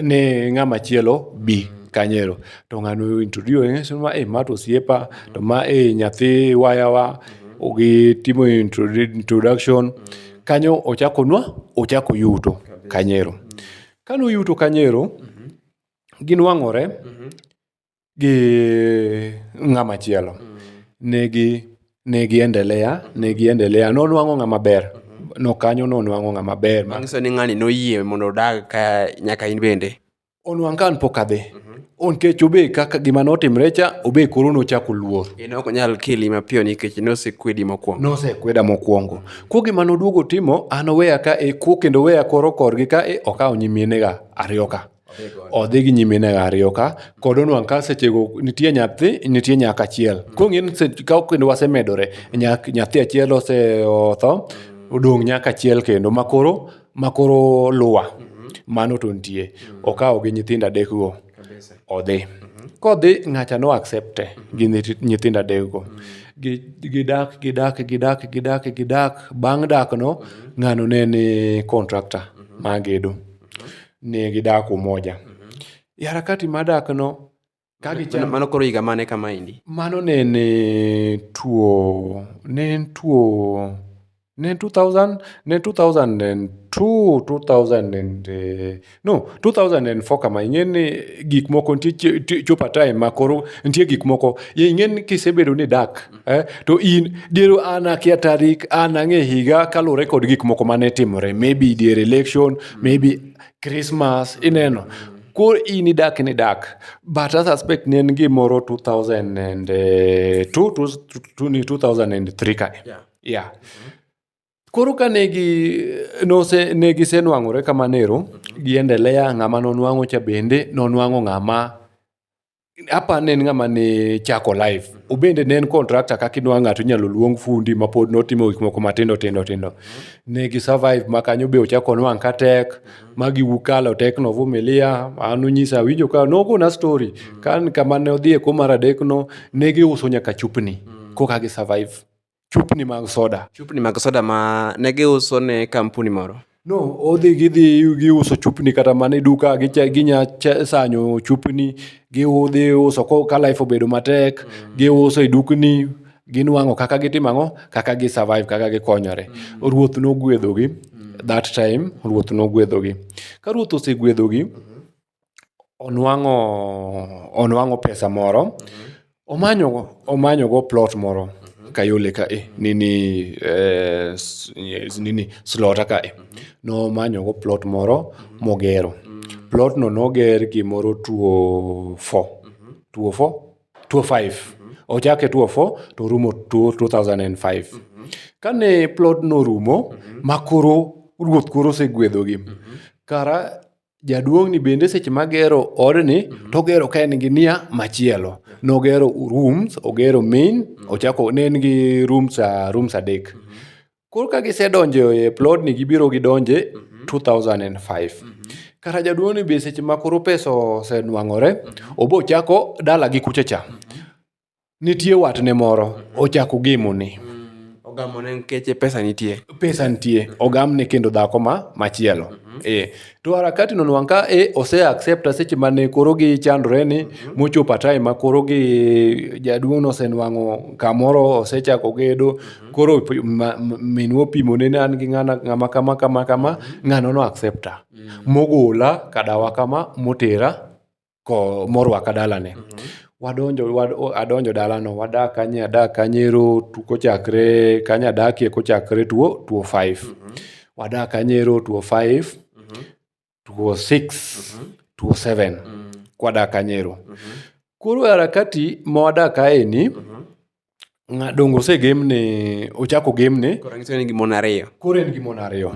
[SPEAKER 1] ne ng'ama chielo bi kanyero to ng'ani o introduce ni ma e ma to osiepa to ma e nyathi wayawa gitimo introdu- introduction kanyo ochako nwa ochako yuto kanyero kano yuto kanyero ginwang'ore gi ng'ama chielo negi negi endelea negi endelea nonwang'o ng'ama ber no kanyo nonwang'o ng'ama ber ma Manyiso ni ng'ani noyie mondo odag ka nyaka in bende. onwang' ka an pok adhi onkech obe kaka gima notimre cha obe koro nochako luor en ok onyal keli mapiyo nikech nosekwedi mokwongo nosekweda mokwongo ko gima noduogo timo an oweya ka e ko kendo weya koro korgi ka e okawo nyiminega ariyo ka odhi gi nyiminega ariyo ka kod onwang' ka sechego nitie nyathi nitie nyaka achiel kong'e ni se- ka kendo wasemedore nyak- nyathi achiel ose- otho odong' nyaka achiel kendo makoro ma koro luwa mano to nitie. Okawo gi nyithindo adek go odhi. Kodhi ng'acha no accept e gi nyithindo adek go. Gidak, gidak, gidak, gidak, gidak. Bang' dak no, ng'ano ne en contractor ma gedo. Ne gidak Umoja. E harakati mar dak no, Ka Mano- gicham- Mano koro higa mane kama endi? Mano ne en eh, tuo, ne en tuo, ne en 2000, ne en 2002, 2000 and, eh, no, 2004 kama, ing'e ni gik moko nitie chi- ti- chopo a time ma koro nitie gik moko, ye ing'e ni kisebedo ni dak, eh, to in diero an akia tarik, an ang'e higa kaluwore kod gik moko mane timore, maybe dier election, maybe Christmas, ineno. Koro in idak ni dak. But I suspect ne en gimoro 2002, 2003 kae. Yeah. Yeah. Koro ka negi nose negi senwang'ore kamanero gi endelea ng'ama nonwang'o cha bende nonwang'o ng'ama apa ne en ng'ama ne chako life obende ne en contractor kaka inwa ng'ato inyalo luong fundi ma pod notimo gik moko matindo tindo tindo ne gi survive ma kanyo be ochako nwang' ka tek ma giwukalo tek novumilia an unyisa awinjo ka nogona story kan kama ne odhi e ko mar adek no ne giuso nyaka chupni koka gi survive chupni mag soda. Chupni mag soda ma ne giuso ne kampuni moro. No, odhi gidhi giuso chupni kata mana e duka gicha- ginya che- sanyo chupni giudhi uso ko ka life obedo matek giuso e dukni ginwang'o kaka gitimo ang'o kaka gi survive kaka gikonyore ruoth nogwedhogi that time ruoth nogwedhogi ka ruoth osegwedhogi onwang'o onwang'o pesa moro, omanyo omanyogo plot moro Kayole ka e nini nini Slota ka e. Nomanyogo plot moro mogero. Plotno noger gimoro two o four, two o four? two o five. Ochake two o four to orumo two two thousand and five. Kane plodno orumo ma koro ruoth koro oseguedhogi, kara jaduong'ni bende seche magero odni mhm. togero ka en gi nia machielo nogero rooms ogero main mhm. ochako ne en gi rooms rooms adek mhm. koro ka gisedonjo e plodni gibiro gidonje 2005 kata jaduong'ni be seche ma koro pesa osenwang'ore obochako dalagi kucha cha Nitie watne moro, ochako ogemone. Ogamone nkeche pesa nitie. Pesa nitie, ogamne kendo dhako ma machielo. Eh, to harakati no nwang' ka eh, ose accepta seche mane koro gichandore ni mochopo a time ma koro gi jaduong' no osenwang'o kamoro osechako gedo koro p- ma- m- minwa opimone ni an gi ng'ana ng'ama kama kama kama ng'ano no accepta mogola kadawa kama motera ko morwaka dalane. Wadonjo, wad, adonjo dalano, wadak kanye, adak kanyero tu- kochakre kanye adakie kochakre tuo tuo 5. Wadak kanyero tuo 5, tuo 6, tuo 7. Kwadak kanyero. Koro e harakati ma wadak kaeni, donge osegemne ochak ogemne Koro ranyisi en gi mon ariyo. koro en gi mon ariyo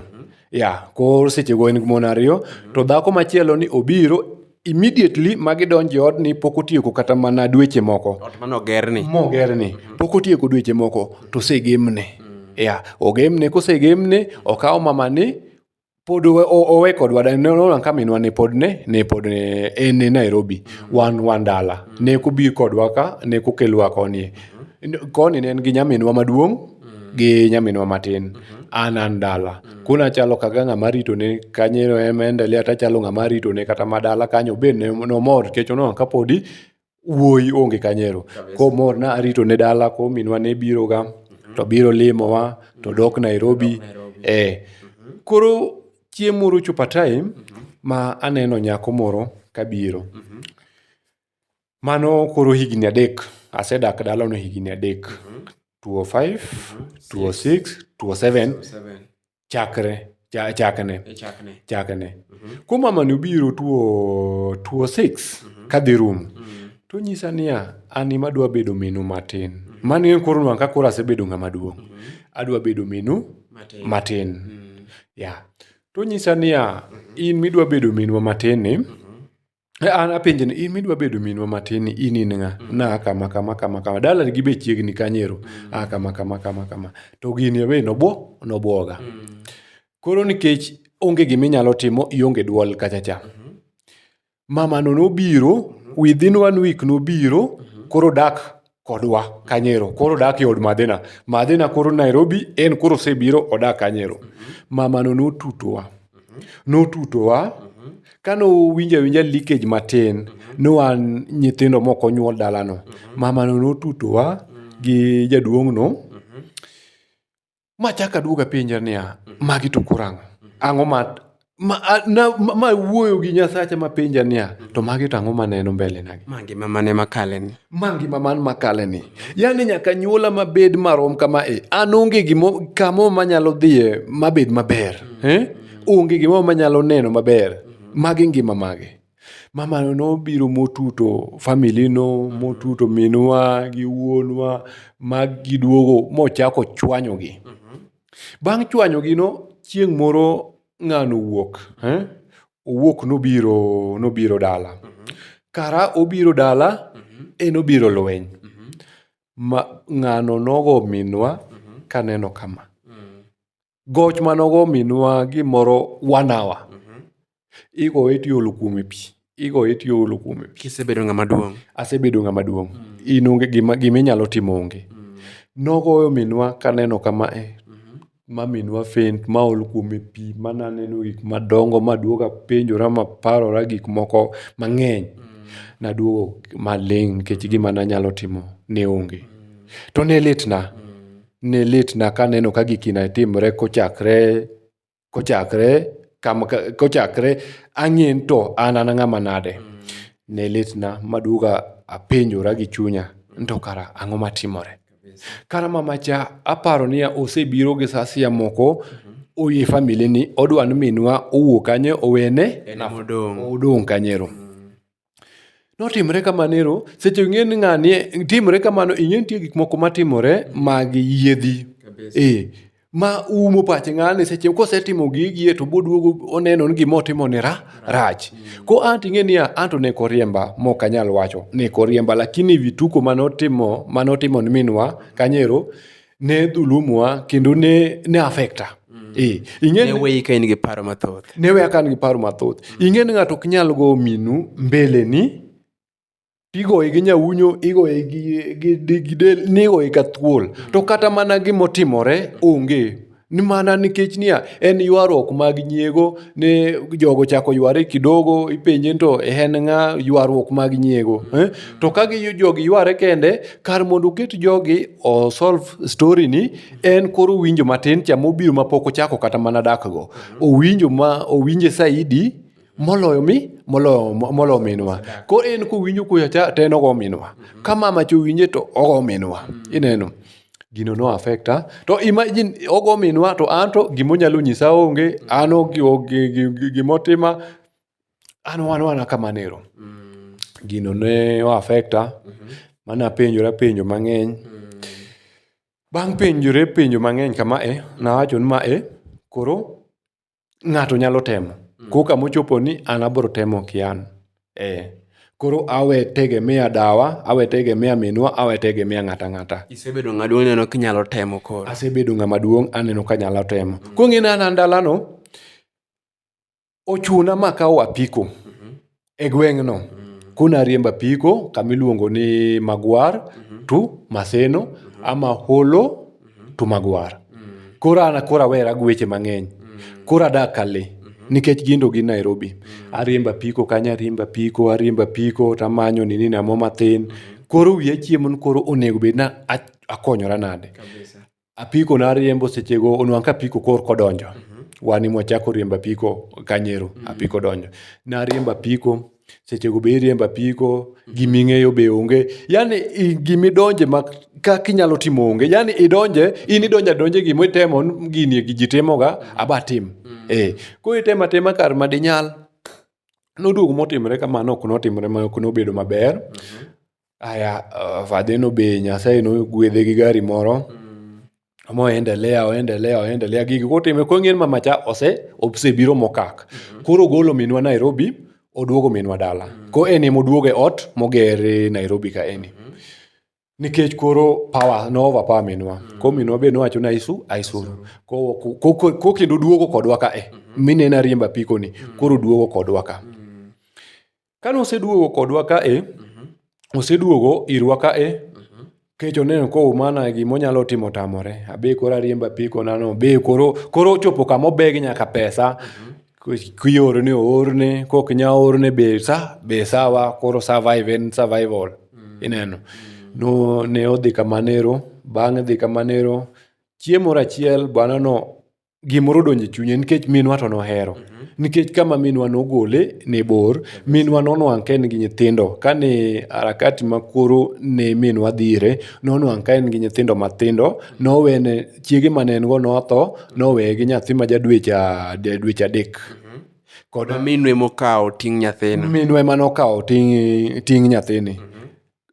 [SPEAKER 1] ya koro sechego en gi mon ariyo to dhako machielo ni obiro immediately ma gidonjo e odni pok otieko kata mana dweche moko Ot mane ogerni. mogerni pok otieko dweche moko to osegemne ya ogemne kosegemne okawo mamani pod owe kodwa nona ka minwa ne pod ne ne pod ne en e Nairobi wan wan dala ne kobi kodwa ka ne kokelwa koni koni ne en gi nyaminwa maduong' gi nyaminwa matin an an dala kuna achalo kaga ng'ama ritone kanyo ema endelea tachalo ng'ama ritone kata ma dala kanyo be nomor nikech oneno ka podi wuoyi onge kanyo ero. Koro mor ne arito ne dala koro minwa ne biroga to biro limowa to dok Nairobi. Eh, koro chieng' moro ochopo a time ma aneno nyako moro kabiro. Mano koro higni adek, asedak dalano higni adek. Two o five, two o six, two o seven, chakre cha- chakne E chakne. chakne ko mamani obiro tuo tuo six kadhi rum to nyisa niya an ema adwa bedo minu matin mano en koro nwang' ka koro asebedo ng'ama duong' adwa bedo minu Matin. matin ya to nyisa niya in midwa bedo minwa matin ni An apenje ni in midwa bedo minwa matin ni in in ng'a? Mm. Na kama kama kama kama. Dala gi be chiegni kanyero. Mm. Ah kama kama kama kama. To gini be nobo nobwoga. Mm. Koro nikech onge gima inyalo timo ionge dwol kacha cha. Mm-hmm. Mama no nobiro mm-hmm. within one week nobiro mm-hmm. koro dak kodwa kanyero koro odak e od madhina madhina koro nairobi en koro osebiro odak kanyero mamano notutowa notutowa kane owinjo awinja leakage matin ni wan nyithindo mok onyuol dalano mamano notutowa gi jaduong'no Ma chak aduog apenja niya, magi to koro ang'o? Ang'o ma ma, a- na- ma, ma wuoyo gi nyasacha mapenja niya to magi to ang'o maneno mbele nagi Ma ngima mane makaleni? ma ngima man makale ni yani nyaka nyuola mabed marom kama e an onge gimo kamo manyalo dhiye mabed maber eh? onge gimo manyalo neno maber magi ngima mage Mamano nobiro motuto family no, motuto minwa gi wuonwa ma giduogo mochako chwanyogi. Bang' chwanyogino, chieng' moro ng'ano owuok, owuok nobiro nobiro dala. Kara obiro dala, en obiro lweny. Ng'ano nogo minwa kaneno kama. goch manogo minwa gimoro one hour igoye tiolo kuome pi igoye tiolo kuome pi kisebedo ng'ama duong' asebedo ng'ama duong' in onge gima gima inyalo timo onge nogoyo minwa kaneno kama e ma minwa faint ma ol kuome pi ma naneno gik madongo ma duoga penjora ma parora gik moko mang'eny naduogo maling' nikech gima nanyalo timo ne onge to ne litna ne litna kaneno ka giki ne timre kochakre kochakre kama kochakre ang'e ni to an an ng'ama nade. Ne litna maduoga apenjora gi chunya ni to kara ang'o matimore. Kara mamacha aparo niya osebiro gi saa asaya moko oye familia ni odwa ni minwa owuog kanyo owene nafas odong' kanyero. Notimre kamano ero, seche ing'e ni ng'ani timre kamano, ing'e nitie gik moko matimore mag yiedhi. Ee, ma umo pache ng'ani seche kosetimo gigi e to boduogo oneno ni gima otimo ni ra, rach. Ko an to ing'e niya, an to ne ok oriemba mok anyal wacho, ne ok oriemba lakini vituko manotimo manotimo ni minwa kanyo ero, ne dhulumwa kendo ne, ne affecta mm. e, ing'e weyi ka in gi paro mathoth ne weya ka in gi paro mathoth mm. ing'e ni ng'ato ok nyal go minu mbele ni igoye gi nyawunyo igoye gi, gi, gi, gi del nigoye ka thuol mm. to kata mana gimotimore onge Ni mana nikech niya, en ywaruok mag nyiego ne jogo chako yware kidogo, ipenje to en ng'a ywaruok mag nyiego. Eh? To ka gi jogi yware kende, kar mondo oket jogi o solve story ni, en koro owinjo matin cha mobiro mapok ochako kata mana dakgo. Owinjo ma owinje saidi. moloyo mi moloyo moloyo minwa ko en kowinjo kuya cha to en ogo minwa mm-hmm. ka mama cha owinje to ogo minwa mm-hmm. ineno gino no affecta to imagine ogo minwa to an to gima onyalo nyisa onge mm-hmm. an onge gima otima an wan wana kamanero gino ne o affecta mane apenjora penjo mang'eny bang' penjore penjo mang'eny kama e nawacho ni ma e koro ng'ato nyalo temo. Mm. Ko kama ochopo ni an abro temo kian. Eh. Koro awe tegemea dawa, awe tegemea minwa, awe tegemea ng'ata ng'ata. Isebedo ng'ama duong' aneno kinyalo temo koro. Asebedo ng'ama duong' aneno kanyalo temo. Mm. Kong'ina na ndalano, ochuna ma akawo apiko. Mm-hmm. e gweng'no mm. kuna riembo apiko kama iluongo ni magwar mm-hmm. to maseno mm-hmm. ama holo mm-hmm. to magwar mm. koro an koro awera gi weche mang'eny mm. koro adak kale mm-hmm. nikech gindo gi nairobi mm. ariembo apiko kanyo ariembo apiko ariembo apiko tamanyo nini namo matin mm-hmm. koro wiya chiemo ni koro onego bed na akonyora nade apiko nariembo sechego onwang' ka apiko kor kodonjo wan ema wachako riembo apiko kanyero apiko donjo nariembo apiko sechego be iriembo apiko giming'eyo be onge yani i- gimidonje ma kaka inyalo timo onge yani idonje in idonje adonje gima itemo n- gini gi ji timoga abatim eh koro itemo atema kar madinyal noduogo motimore kamano ok notimore ma ok nobedo maber Aya fadheno be Nyasaye nogwedhe gi gari moro mo endelea oendelea oendelea gigi kotime koro ing'e ni mamacha ose osebiro mokak. Koro ogolo minwa Nairobi oduogo minwa dala. Koro en ema oduogo e ot moger e Nairobi kaeni. Nikech koro power no over power minwa. Koro minwa be nowacho ni ayisu ayisuru. Ko- ko- ko- ko kendo oduogo kodwa ka e. Mineno ariembo apiko ni koro oduogo kodwa ka. Kane oseduogo kodwa ka e, oseduogo irwa ka e, kecho oneno ka Oumana gima onyalo timo tamore. Abe koro ariembo apiko na no, be koro koro ochopo kama obeg nyaka pesa. Kiorone oorne, kok nya orne be sa, be sawa, koro survive en survival. Ineno. No ne odhi kamanero, bang' dhi kamanero, chieng' moro achiel bwana no gimoro odonjo e chunye nikech minwa to nohero nikech kama minwa nogole ne bor minwa nonwang' ka en gi nyithindo kane harakati ma koro ne minwa dhire nonwang' ka en gi nyithindo matindo nowene chiege mane en go notho noweye gi nyathi ma ja dweche a- de- dweche adek kod Minwe mokawo ting' nyathino. minwa ema nokawo ting' ting' nyathini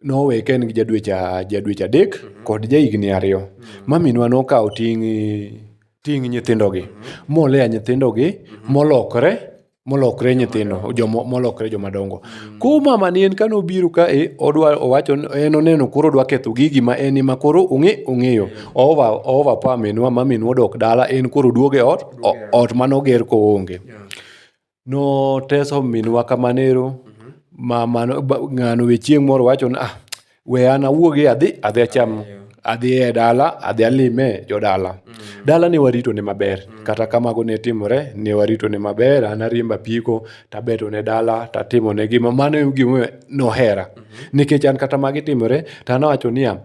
[SPEAKER 1] nowe ka en gi jadweche adek kod jahigni ariyo. Maminwa nokawo ting' ting' nyithindogi moleya nyithindogi molokre molokre nyithindo jomo molokre joma dongo. Koro mamani en kane obiro kae odwa owacho ni en oneno koro odwa ketho gigi ma en ema koro ong'e ong'eyo. Oova oova pa minwa ma minwa odok dala en koro oduogo e ot ot mane oger koonge. noteso minwa kamano ero ma mano ba- ng'ano we chieng' moro wacho ni ah we an awuogi adhi adhi acham adhi e dala adhi alime jodala dala ne warito ne maber kata ka mago ne timore ne warito ne maber an ariembo apiko tabeto ne dala tatimo ne gima mano e gimomiyo nohera nikech an kata magi timore tanawacho niya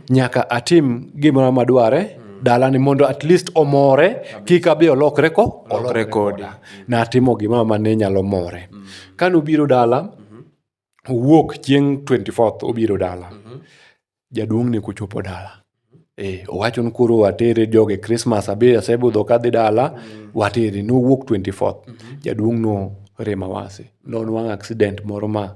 [SPEAKER 1] nyaka atim gimoro madware dalani mondo at least omore kik abi olokre ko olokre koda natimo gimoro mane nyalo more kane obiro dala owuok chieng' 24th obiro dala jaduong' ne kochopo dala Eh, owacho ni koro watere joge krismas abi asebudho kadhi dala watere nowuok 24th jaduong' no rem awasi nonwang' accident moro ma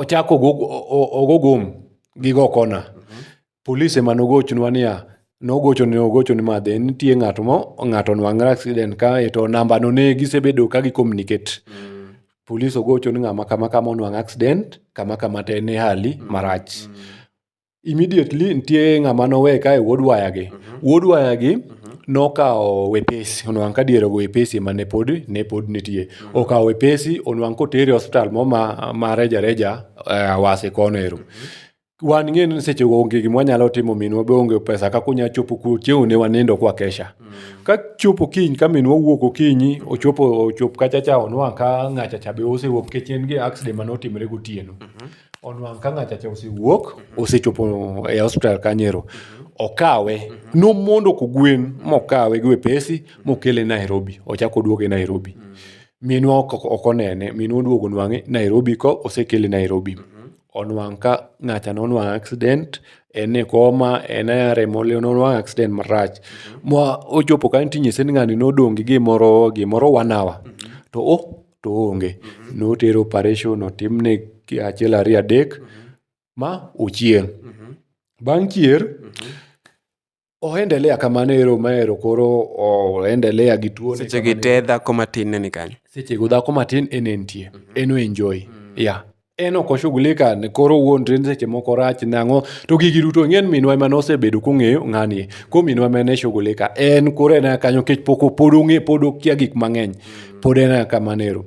[SPEAKER 1] ochako ogo gum gi go kona, polis ema nogochonwa niya, nogochone ogochone ma then nitie ng'at mo ng'ato onwang're accident kae to namba no ne gisebedo ka gi communicate. Polis ogocho ni ng'ama kama kama onwang' accident, kama kama to en e hali marach. immediately nitie ng'ama nowe kae wuod wayagi. Wuod wayagi nokawo wepesi, onwang' ka diere ogo wepesi ema ne pod ne pod nitie. Okawo wepesi onwang' kotere e hospital mo ma ma reja reja e Awasi kono ero. Wan ing'e ni seche go onge gima wanyalo timo, minwa be onge pesa kaka onya chopo kuro, chieng'no ne wanindo kwa kesha. Ka chopo kiny ka minwa owuok okinyi, ochopo ochop kacha cha onwang' ka ng'acha cha be osewuok nikech en gi accident mane otimore gotieno. onwang' ka ng'achacha osewuok mhm. osechopo e hospital kanyero mhm. okawe mhm. nomondo kogwen mokawe gi wepesi mokele nairobi ochako oduoge nairobi minwa ok onene minwa oduogo nwang'e nairobi ko osekele nairobi onwang' ka ng'acha nonwang' accident en e koma en e remo nonwang' accident marach ma ochopo ka nitinye sen ng'ani nodong' gi gimoro gimoro one hour to o to onge. Notere operation, otimne achiel ariyo adek ma ochieng'. Bang' chier, o endelea kamano ero ma ero koro o endelea gi tuo. Seche gi te dhako matin ne ni kanyo. Seche go dhako matin en entie. En o enjoy. Yeah. en ok oshughulika ni koro wuondre ni seche moko rach nang'o to gigi duto ing'e ni minwa ema nosebedo kong'eyo ng'ani ko minwa ema ne shughulika en koro en kanyo kech pok pod ong'e pod okia gik mang'eny pod en kamano ero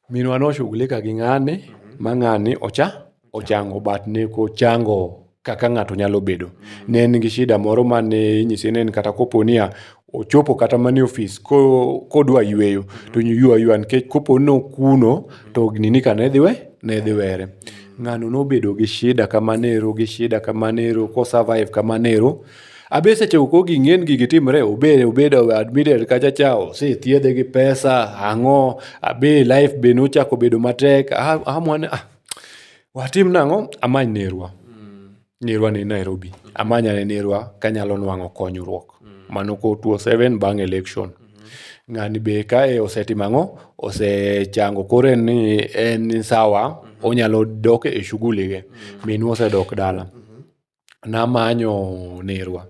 [SPEAKER 1] minwa noshughulika gi ng'ani ma ng'ani ocha ochango but ne ok ochango kaka ng'ato nyalo bedo. Ne en gi shida moro ma ne inyise ni en kata kopo niya, ochopo kata mana e ofis kodwa yweyo to ywa ywa nikech kopo ni okuno to nini ka ne dhi we ne dhi were. Ng'ano nobedo gi shida kamano ero gi shida kamano ero ko survive kamano ero. Abe sechego koro gigi ng'eny gigi timre obed obedo admitted kacha cha osethiedhe gi pesa ang'o abe life be nochako bedo matek. Watim nang'o? Amany nerwa. Nerwa ni Nairobi. Amany ane nerwa kanyalo nwang'o konyruok. Mano ko 27 bang' election. Ng'ani be kae osetimo ang'o? Osechango koro en ni en sawa, onyalo dok e shughuli ge. Minwa osedok dala. namanyo nerwa.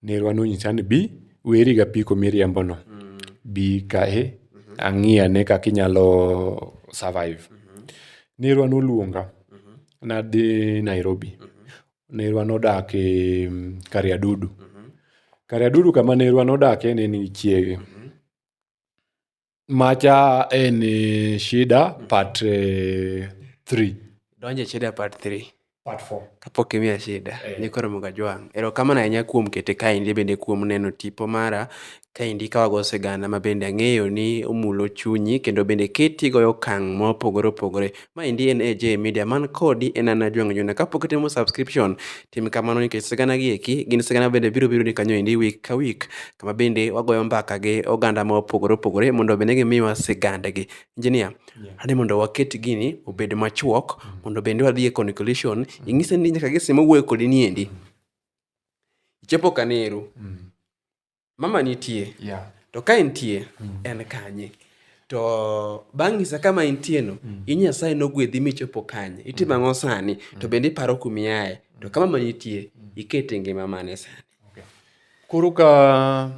[SPEAKER 1] Nerwa nonyisa ni bi, weri gapiko miriembono. Bi kae ang'i ane kaka inyalo survive. Nerwa noluonga nadhi Nairobi. Nerwa nodak e Kariadudu. Kariadudu kama nerwa nodake ne nigi chiege. Macha en shida part eh, three. Donjo e shida part 3. Part four. Kapok imiya shida, Eh. ni koro moga jwang'. Erokamano ahinya kuom kete kaendi bende kuom neno tipo mara kaendi ka wago sigana ma bende ang'eyo ni omulo chunyi kendo bende keti goyo okang' mopogore opogore Maendi en AJ Media man kodi en an Ajwang' Juna. Kapok itimo subscription, tim kamano nikech sigana gi eki gin sigana bende biro biro ni kanyo endi week ka week kama bende wagoyo mbaka gi oganda ma opogore opogore mondo bende gimiwa sigandgi. Engineer, ane mondo waket gini obed machuok mondo bende wadhi e conclusion. Ing'ise ni nyaka gise mowuoyo kodi ni endi, ichopo kaneru. mama nitie yeah. to ka entie mm. en kanye to bang' nyisa kama intieno mm. i nyasaye nogwedhi michopo kanye itimo mm. ang'o sani mm. to bende iparo kumiaye to ka mama nitie mm. ikete ngima mane sani okay. koro ka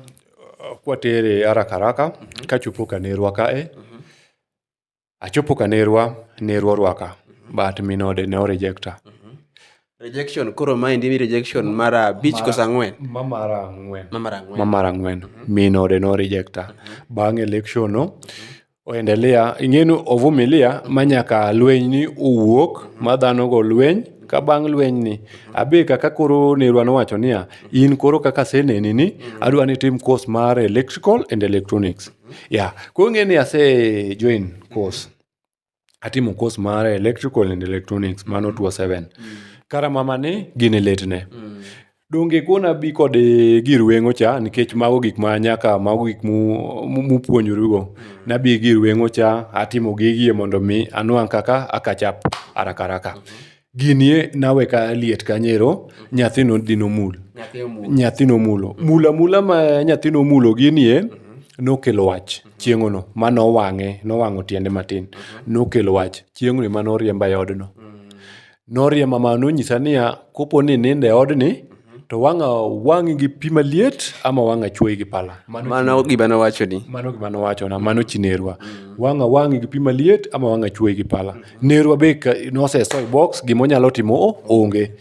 [SPEAKER 1] uh, kwatere haraka haraka mm -hmm. kachopo kanerwa kae mm -hmm. Achopo ka nerwa, nerwa orwaka, but min ode ne orejekta. Rejection, koro maendi ni rejection mar abich koso ang'wen? Ma mar ang'wen. Ma mar ang'wen. Ma mar ang'wen. Min ode ne orejekta. Bang' election no, oendelea, ing'enu ovumilia ma nyaka lweny ni owuok, ma dhano go lweny, ka bang' lweny ni, abe kaka koro nerwa nowacho niya, in koro kaka aseneni ni, adwa ni itim course mar electrical and electronics. yeah koro ong'e ni ase join course atimo course mar electrical and electronics mano 27 kara mama ni gin e letne donge kona bi kod eh, gir weng'o cha nikech mago gik ma nyaka mago gik mu- mu- mupuonjorugo nabi gir weng'o cha atimo gigie mondo mi anwang' kaka akachap arakaraka Gini e nawe ka liet kanyero, nyathino dhi nomul. Nyathi omulo. Nyathi nomulo. Mula mula ma nyathi nomulo ginie, nokelo wach chieng'ono ma nowang'e, nowang'o tiende matin. Nokelo wach chieng'ono ma noriemba e odno. Noriemba ma nonyisa niya, kopo ni inindo e odni, To wang'a wang'i gi pi maliet ama wang'a chuoyi gi pala? Mano gima nowachoni. Mano gima nowachona, mano chi nerwa. Wang'a wang'i gi pi maliet ama wang'a chuoyi gi pala? Nerwa be ka noseso e box, gima onyalo timo o onge.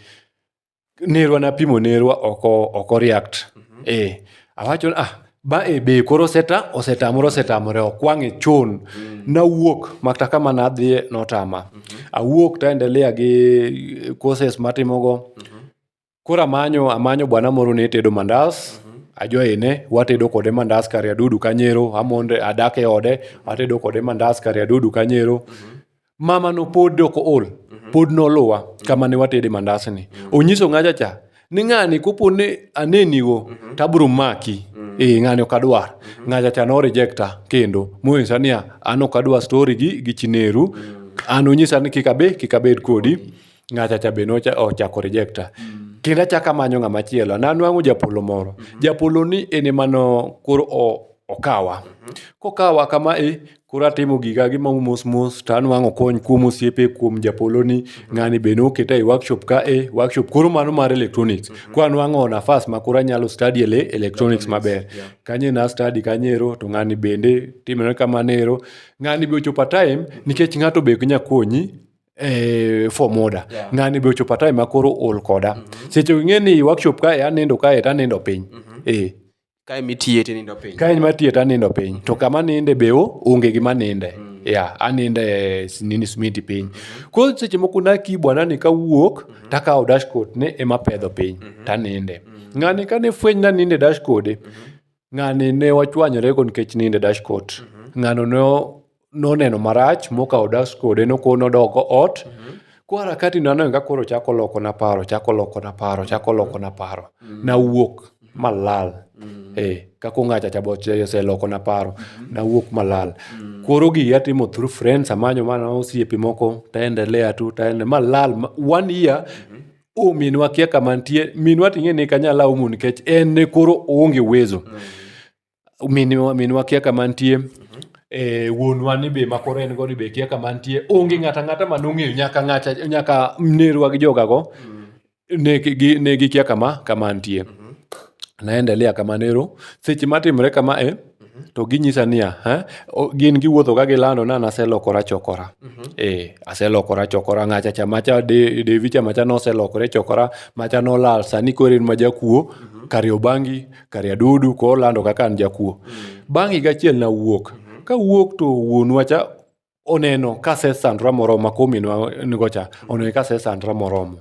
[SPEAKER 1] Nerwa napimo nerwa oko oko react. Ee, awacho ni ah, ba e be koro oseta osetamore osetamore ok wang'e chon. Nawuok makata kama nadhiye notama. Awuok taendelea gi courses matimogo, Koro amanyo amanyo bwana moro ne tedo mandas ajwayene watedo kode mandas kare adudu kanyero amonde adak e ode atedo kode mandas kare adudu kanyero mama no pod ok ool pod noluwa kama ne watede mandas ni onyiso ng'acha cha ni ng'ani kopo ni anenigo to abiro maki ee ng'ani ok adwar ng'acha cha no rejecta kendo monyisa niya an ok adwar story gi gi chi neru an onyisa ni kik abe kik abed kodi ng'acha cha be nochako rejecta mm. kendo achaka manyo ng'ama chielo nanwang'o japolo moro mm -hmm. japolo ni en emano koro okawa mm -hmm. kokawa kama e koro atimo giga gi mau mos mos to anwang'o kony kuom osiepe kuom japolo ni mhm. ng'ani be noketa e workshop ka e workshop koro mano mar electronics mm -hmm. ko anwang'o nafas ma koro anyalo study ele electronics maber yeah. kanye na study kanyero to ng'ani bende timore kamanero ng'ani be ochopa time mhm. nikech ng'ato be nyakonyi eh, form order Yeah. ng'ani be ochopo time makoro ol koda mm-hmm. seche ing'e ni workshop kae anindo kae to anindo piny mm-hmm. eh, kae mitiye tinindo piny kae ma tiye to anindo piny to kama ninde be o- onge gima ninde mm. yeah, aninde eh, s- nini smiti piny mm-hmm. koro seche moko nakibwa nani kawuok mm-hmm. takawo dashcoat ne ema pedho piny mm-hmm. taninde mm-hmm. ng'ani kane fweny naninde dashcode mm-hmm. Ng'ani ne wachwanyore go nikech nindo e dashcourt. Ng'ano ne o- noneno marach mokawo dashcourt en ok nodoko ot. Ko harakati na neno ka koro chako loko na paro, chako loko na paro, chako loko na paro. Nawuok malal. Eh, kako ng'acha cha boche oseloko na paro. Nawuok malal. Koro gigi atimo through friends, amanyo mana osiepe moko, taendelea tu, taendelea, malal, ma- one year o minwa kia kama nitie minwa ting'e ni kanyala aumu nikech en ne koro oonge uwezo mm. minwa, minwa kia kama nitie mm-hmm. e, wuonwa ni be makoro en go ni be kia kama nitie onge ng'ata ng'ata ma nong'eyo nyaka ng'ata nyaka nerwa gi jogago mm. ne, gi, ne gikia kama kama nitie mm-hmm. naendelea kama nero seche matimre kama e to ginyisa niya, "Ha? O- gin giwuotho ka gilando na naselokora chokora ee aselokora chokora ng'acha chamacha de- devi chamacha noselokore chokora macha nolal sani koro en ma jakuo kari obangi kari adudu ko olando kaka an jakuo bang' higa achiel nawuok kawuok to wuonwa cha oneno ka sesandra moromo maka ominwa nigo cha oneno ka sesandra moromo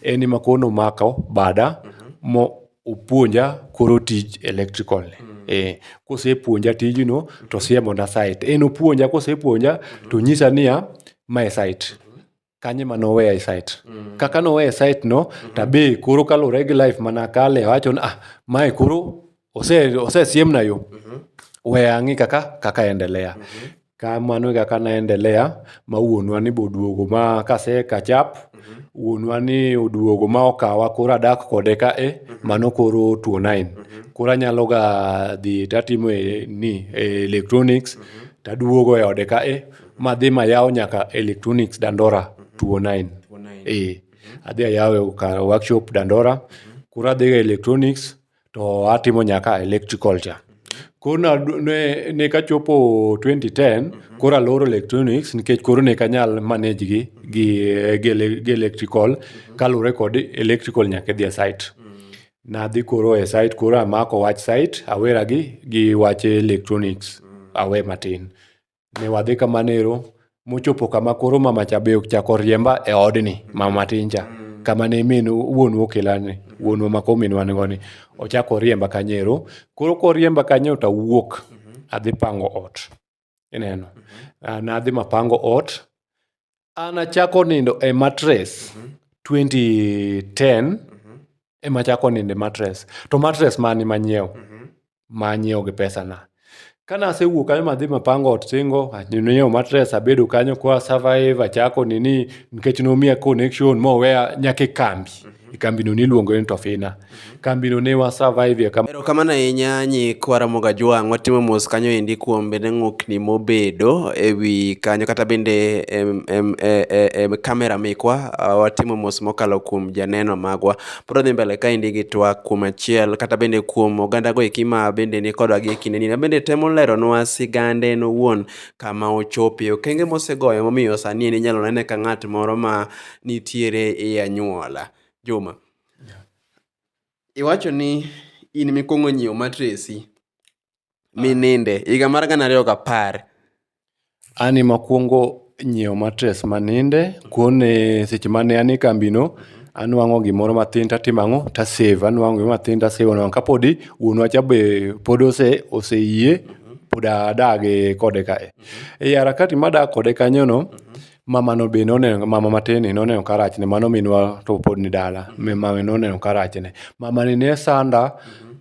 [SPEAKER 1] en ema koro nomako bada mo opuonja koro tij electrical ni eh, kosepuonja tijno to siemona site en opuonja kosepuonja to nyisa niya mae site kanye ma noweya e site mm. kaka noweya e site no mm-hmm. tabe koro kalure gi life mana kale wacho ni ah mae koro ose osesiemna yo mm-hmm. we ang'i kaka kaka endelea mm-hmm. kamano e kaka naendelea ma wuonwa ni boduogo ma kase kachap mm-hmm. wuonwa ni oduogo ma okawa koro adak kode ka e mm-hmm. mano koro tuo nine mm-hmm. koro anyalo ga dhi tatimo e, ni e electronics mm-hmm. taduogo e ode ka e madhi mayaw nyaka electronics dandora 209 eh adhi ayawe kar workshop dandora kura adhiga electronics to atimo nyaka electrical cha koro na- ne, ne kachopo 2010 koro aloro electronics nikech koro ne kanyal manage gi gi, gi, ele- gi electrical kaluwore kod electrical nyaka idhi e site nadhi koro e site koro amako wach site awera gi gi wach electronics awe matin Ne wadhi kamano ero mochopo kama koro mama cha be ochako riemba e odni, mama tin cha. Kama ne min wuonwa okela ni, wuonwa ma koro minwa nigo ni. Ochako oriemba kanyo ero. Koro koriemba kanyo to awuok adhi pango ot. Ineno? Nadhi mapango ot, An achako nindo e matres 2010 ema achako nindo e matres to matres mani manyiew manyiew gi pesana kane asewuok kanyo madhi mapango ot singo anyiewo matres abedo kanyo kwa survive achako nini nikech nomiya connection moweya nyaka e kambi e kambino niluongo ni Tofina. Kambino ne wa survive kama. Erokamano ahinya nyikwa Ramogi Ajwang', watimo mos kanyo endi kuom bende ng'ukni mobedo e wi kanyo kata bende em, em, e, e, e, kamera mikwa ah, watimo mos mokalo kuom janeno magwa. Pod wadhi mbele kaendi gi twak kuom achiel kata bende kuom ogandago eki ma bende ni kodwa gi e kindeni. Ma bende temo leronwa sigande en owuon kama ochopie, okenge mosegoyo momiyo sani en inyalo nene ka ng'at moro ma nitiere e anyuola. Juma, iwacho ni in mikwongo nyiewo matresi mininde higa mar gana ariyo gapar. An e makwongo nyiewo matres maninde, kone seche mane an e kambi no. Anwang'o gimoro matin tatimo ang'o, ta save. Anwang'o gimoro matin ta save nono ka podi wuonwa cha be pod ose yie pod adage kode ka. E harakati madak kode kanyo no, Mamano be noneno, mama matin ni noneno ka rachne, mano minwa to pod ni dala. Mama noneno ka rachne. Mamani ne sanda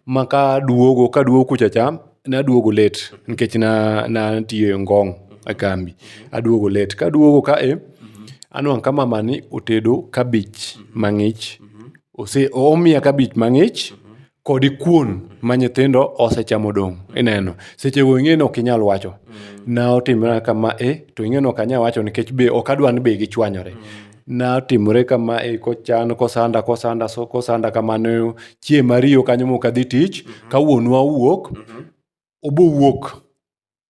[SPEAKER 1] ma ka duogo, ka duogo kucha cha, naduogo late nikech na natiyo e Ngong e kambi. Aduogo late. Kaduogo ka e, anwang' ka mamani otedo kabich mang'ich. Ose, omiya kabich mang'ich, kodi kuon ma nyithindo osechamo dong ineno seche go ing'e ni ok inyal wacho na otimore kama e to ing'e ni ok anyal wacho nikech be ok adwa ni be gichwanyore na otimore kama e kochan kosanda kosanda so kosanda kamano chieng' mariyo kanyo mok adhi tich ka wuonwa owuok obowuok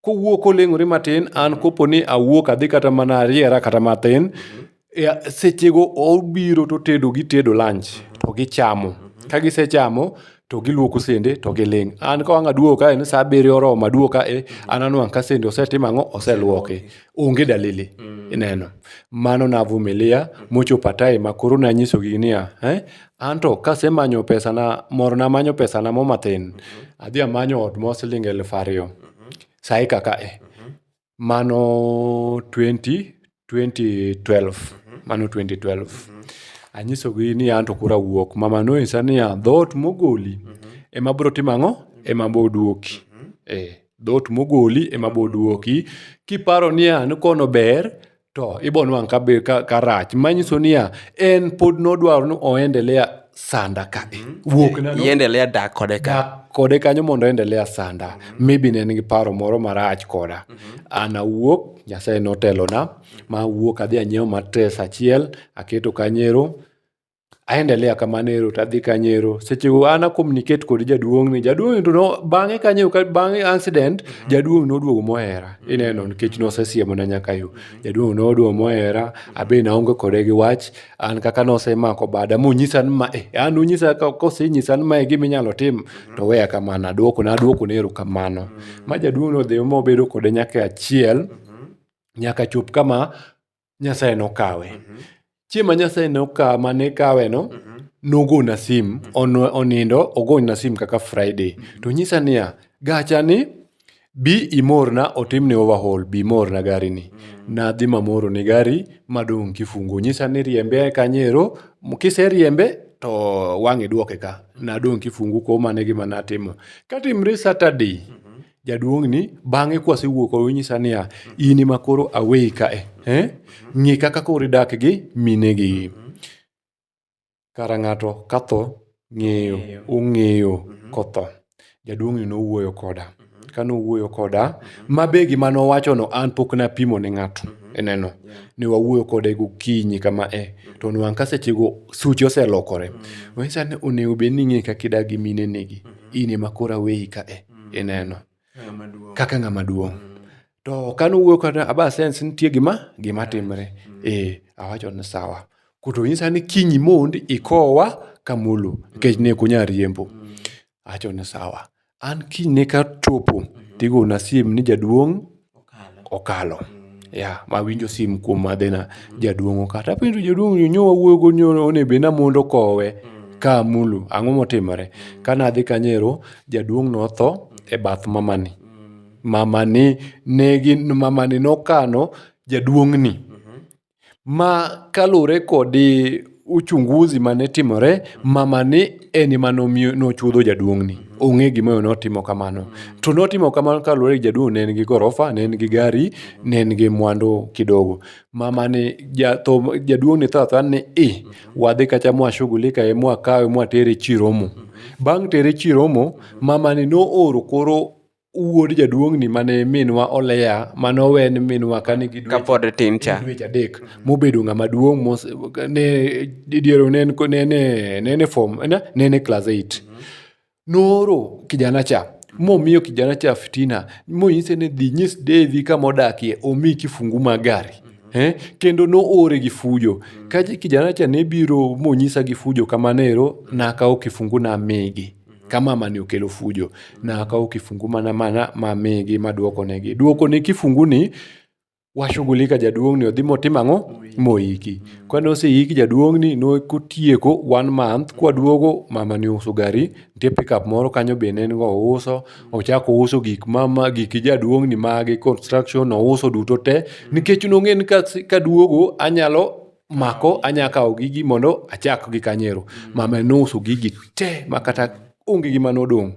[SPEAKER 1] kowuo koleng'ore matin an kopo ni awuok adhi kata mana ariera kata matin e, sechego obiro to tedo gitedo lunch to gichamo ka gisechamo to giluoko sende to giling' an ka wang' aduogo kae ni sa abiriyo oromo aduogo kae an anwang' ka sende osetimo ang'o oseluoki onge dalili mm. ineno mano navumilia mm. mochopo atae ma koro nanyisogi niya eh? anto kasemanyo pesana moro namanyo pesana mo mathin mm -hmm. adhi amanyo ot mo siling elfu ariyo mm -hmm. sai kaka e mm -hmm. mano 20 2012 mm -hmm. mano 2012 mm -hmm. anyisogi ni anto kura wuok mama noinsa niya dhoot mogoli mm -hmm. ema bro timo ang'o ema boduoki mm -hmm. eh. dhoot mogoli ema boduoki kiparo niya ni kono ber to ibonwang' ka rach manyiso niya en pod nodwaro ni oendelea sanda ka wuok na no- iendelea dak kode ka dak kode kanyo mondo endelea sanda maybe ne en gi paro moro marach koda an awuok nyasaye notelona ma awuok adhi anyiewo matres achiel aketo kanyero aendelea kamano ero to adhi kanyo ero sechego an a communicate kod jaduong'ni jaduong'ni to no- bang'e kanyo ka- bang'e accident jaduong' noduogo mohera ineno nikech nosesiemona nyaka yo jaduong' noduogo mohera abe naonge kode gi wach an kaka nosemako bada monyisa ni ma eh, an unyisa ka- kosenyisa ni mae gima inyalo tim to weya kamano aduoko naduoko ne erokamano ma jaduong' nodhi mobedo kode nyaka e achiel nyaka chop kama Nyasaye nokawe. Mhm. Chieng' ma Nyasaye nokawe, ma ne kaweno, Mhm. nogona sim, on- onindo, ogona sim kaka Friday. To nyisa niya, gacha ni, bi imorna, otimni overhaul, bi imorna gari ni. Nadhi mamoro ne gari, madong' kifungu. Nyisa ni riembe kanyero, m- kiseriembe, to wang'e duoke ka. Nadong' kifungu kuom mane gima natimo. Katimre Saturday, jaduong'ni bang'e kwasewuok onyisa niya in ema koro aweyi kae eh? ng'e kaka koro idak gi minegi kara ng'ato katho ng'eyo ong'eyo kotho jaduong'ni nowuoyo koda ka nowuoyo koda ma be gima nowachono an pok napimo ne ng'ato ineno ne wawuoyo kode gokinyi kama e to nwang' ka sechego suche oselokore onyisa ni onego bed ni ing'e kaka idak gi minenegi in ema koro aweyi kae mm. ineno kaka ng'ama duong' mm. to kane owuoyo kata aba sens nitie gima gima timre mm. e awacho ni sawa kuto nyisa ni kinyi mond ikowa kamulu nikech ne kunya riembo awacho ni sawa an kinyne ka chopo mm-hmm. tigona siem ni jaduong' okalo. Yeah, mawinjo sim kuom madhe na jaduong' okata. Apenjo jaduong' ni nyo wawuoyo go nyo one be namondo kowe ka amulu. Ang'o motimore? Kane adhi kanyo ero, jaduong' notho e bath mamani. Mamani negi, mamani nokano jaduong' ni. ma kaluwore kod uchunguzi mane timore, mamani en ema nomiyo nochuodho jaduong'ni. Ong'e gimomiyo notimo kamano. To notimo kamano kaluwore gi jaduong' ne en gi gorofa, ne en gi gari, ne en gi mwandu kidogo. Mamani ja tho jaduong'ni tho athoya ni i, wadhi kacha mwashughulika ye mwakawe mwatere Chiromo. Bang' tere Chiromo, mamani nooro koro. wuod jaduong'ni mane minwa oleya mane owen minwa kane gi kapod tin cha dweche adek mobedo ng'ama duong' mos ne didiero ne ne ne ne form ne ne ne class 8 nooro kijana cha momiyo kijana cha fitina monyise ni dhi nyis Devi kama odakie omi kifungu mag gari Eh, kendo noore gi fujo mm. ka kijana cha ne biro monyisa gi fujo kamano ero nakawo kifungu namigi ka mama ni okelo fujo nakawo kifungu mana mana mamigi maduoko negi. Duoko ne kifungu ni washughulika jaduong' ni odhi motimo ang'o? Moiki. Kane oseiki jaduong' ni no kotieko one month kwaduogo mama ni ouso gari nitie pickup moro kanyo be ne en go ouso ochako ouso gik mama gik jaduong' ni mage construction ouso duto te nikech nong'e ni kaduogo anyalo mako anya kawo gigi mondo achak gi kanyero mm. mama nouso gigi te ma kata onge gi mane odong'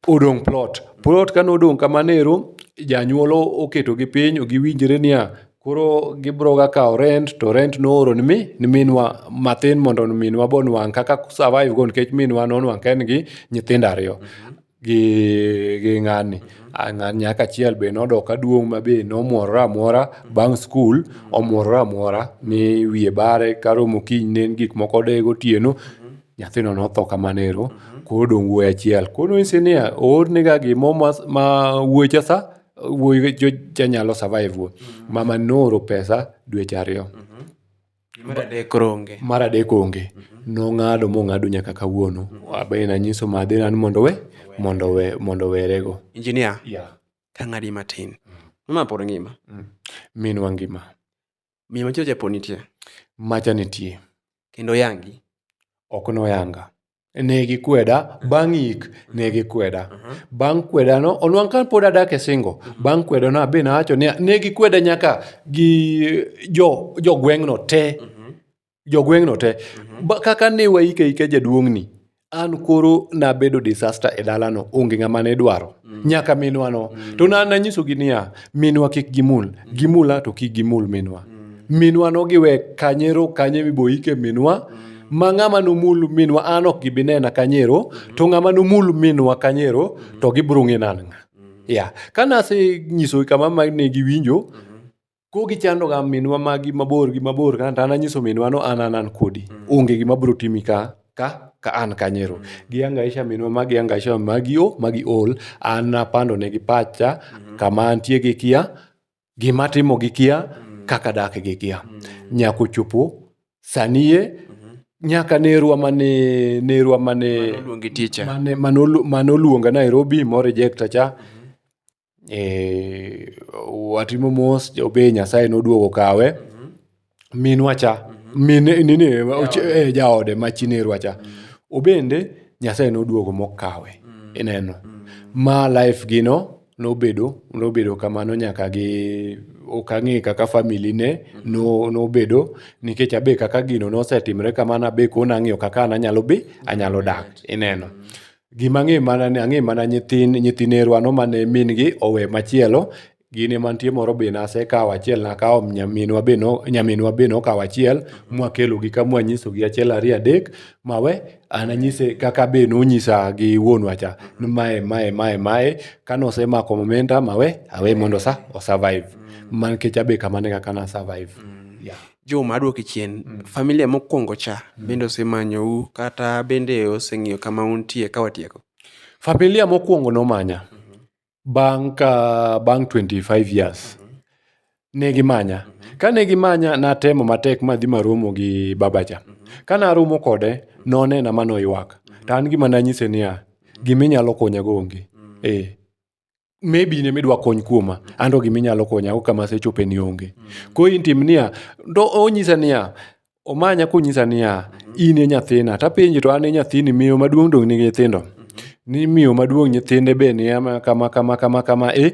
[SPEAKER 1] odong' plot plot kane odong' kamano ero janyuol oketo gi piny giwinjre niya koro gibro ga kawo rent to rent nooro ni mi ni minwa mathin mondo minwa bo nwang' kaka survive go nikech minwa nonwang' ka en gi nyithindo ariyo mm-hmm. gi ng'ani. Ng'ani nyaka achiel be nodok ka duong' ma be nomwore amwora bang' skul, omwore amwora mi wiye bare karomo kiny ne en gik moko odeye gotieno, nyathino notho kamano ero. Koro odong' wuoyi achiel. Koro nonyise niya, oornega gimo ma wuoyi cha sa, wuoyi cha nyalo survive go. Mamani nooro pesa dweche ariyo. Mar adek koro onge. Mar adek onge. Nong'ado mong'ado nyaka kawuono. Abe nanyiso madhe ni mondo we, mondo we, mondo werego. Injinia, Yeah. tang'adi matin. Mama pod ngima. Minwa ngima. Miyo machielo cha pod nitie. Macha nitie. Kendo yangi. Ok noyanga. Ne gikweda, bang' yik, ne gikweda. Bang' kwedano, onwang' ka pod adak e singo, bang' kwedano abe nawacho niya, ne gikweda nyaka gi jo jogweng'no te. Jogweng'no te. Ba- Kaka ne waike aika jaduong'ni, an koro nabedo disaster e dalano, onge ng'ama ne dwaro. Mm. nyaka minwano mm. to nanyisogi niya minwa kik gimul mm. gimula to kik gimul minwa mm. minwa nogiwe kanyero kanye miboike minwa mm. ma ng'ama nomul minwa an ok gibi nena kanyero mm. to ng'ama nomul minwa kanyero mm. to gibrung'e nanng'a mm. ya yeah. ka nasenyisogi kama ma ne giwinjo mm. Koro gichandoga minwa magi mabor gi mabor ka to an anyiso minwa no an an an kodi. Mm. Onge gima biro timi ka ka ka an kanyero. Mm. Giangaisha minwa magi angaisha magi o magi ol an napando negi pacha mm-hmm. kama antie gi kia gima timo gi kia mm. kaka dak gi kia. Nyako chopo sanie mm-hmm. nyaka nerwa mane nerwa mane mane mane oluonga Nairobi mo rejecta cha mm-hmm. watimo mos be Nyasaye noduogo okawe. Minwa cha, jaode ma chi nerwa cha, obende Nyasaye noduogo mokawe. Ineno? Ma life gi no nobedo, nobedo kamano nyaka gi, ok ang'e kaka family ne nobedo. Nikech abe kaka gino nosetimre kamano abe koro nang'iyo kaka an anyalo bi, anyalo dak. Ineno? Gima ang'eyo mana ni ang'eyo mana nyithin nyithi nerwa no mane min gi owe machielo. Gin ema nitie moro be nasekawo achiel nakawo nyaminwa be no nyaminwa be nokawo achiel mwakelo gi ka mwanyiso gi achiel ariyo adek mawe. An anyise kaka be nonyisa gi wuonwa cha ni mae mae mae mae. Kanosemako omenda mawe awe mondo osa o survive. Mana nikech an be kamano e kaka na survive yeah. Juma aduoki chien. Familia mokwongo cha bende osemanyou kata bende oseng'iyo kama untie ka watieko? Familia mokwongo nomanya bang' ka bang' 25 years. Ne gimanya. Kane gimanya natemo matek madhi maromo gi babacha. Kane aromo kode nonena ma noywak. To an gima nanyise niya, giminyalo konyago onge. Ee. maybe in ema idwa kony kuoma an to gima inyalo konya go kama asechope ni onge koro in tim niya to onyisa niya omanya konyisa niya in e nyathina tapenje to an e nyathini miyo maduong' dong' nigi nyithindo ni miyo maduong' nyithinde be ni ama kama kama kama kama e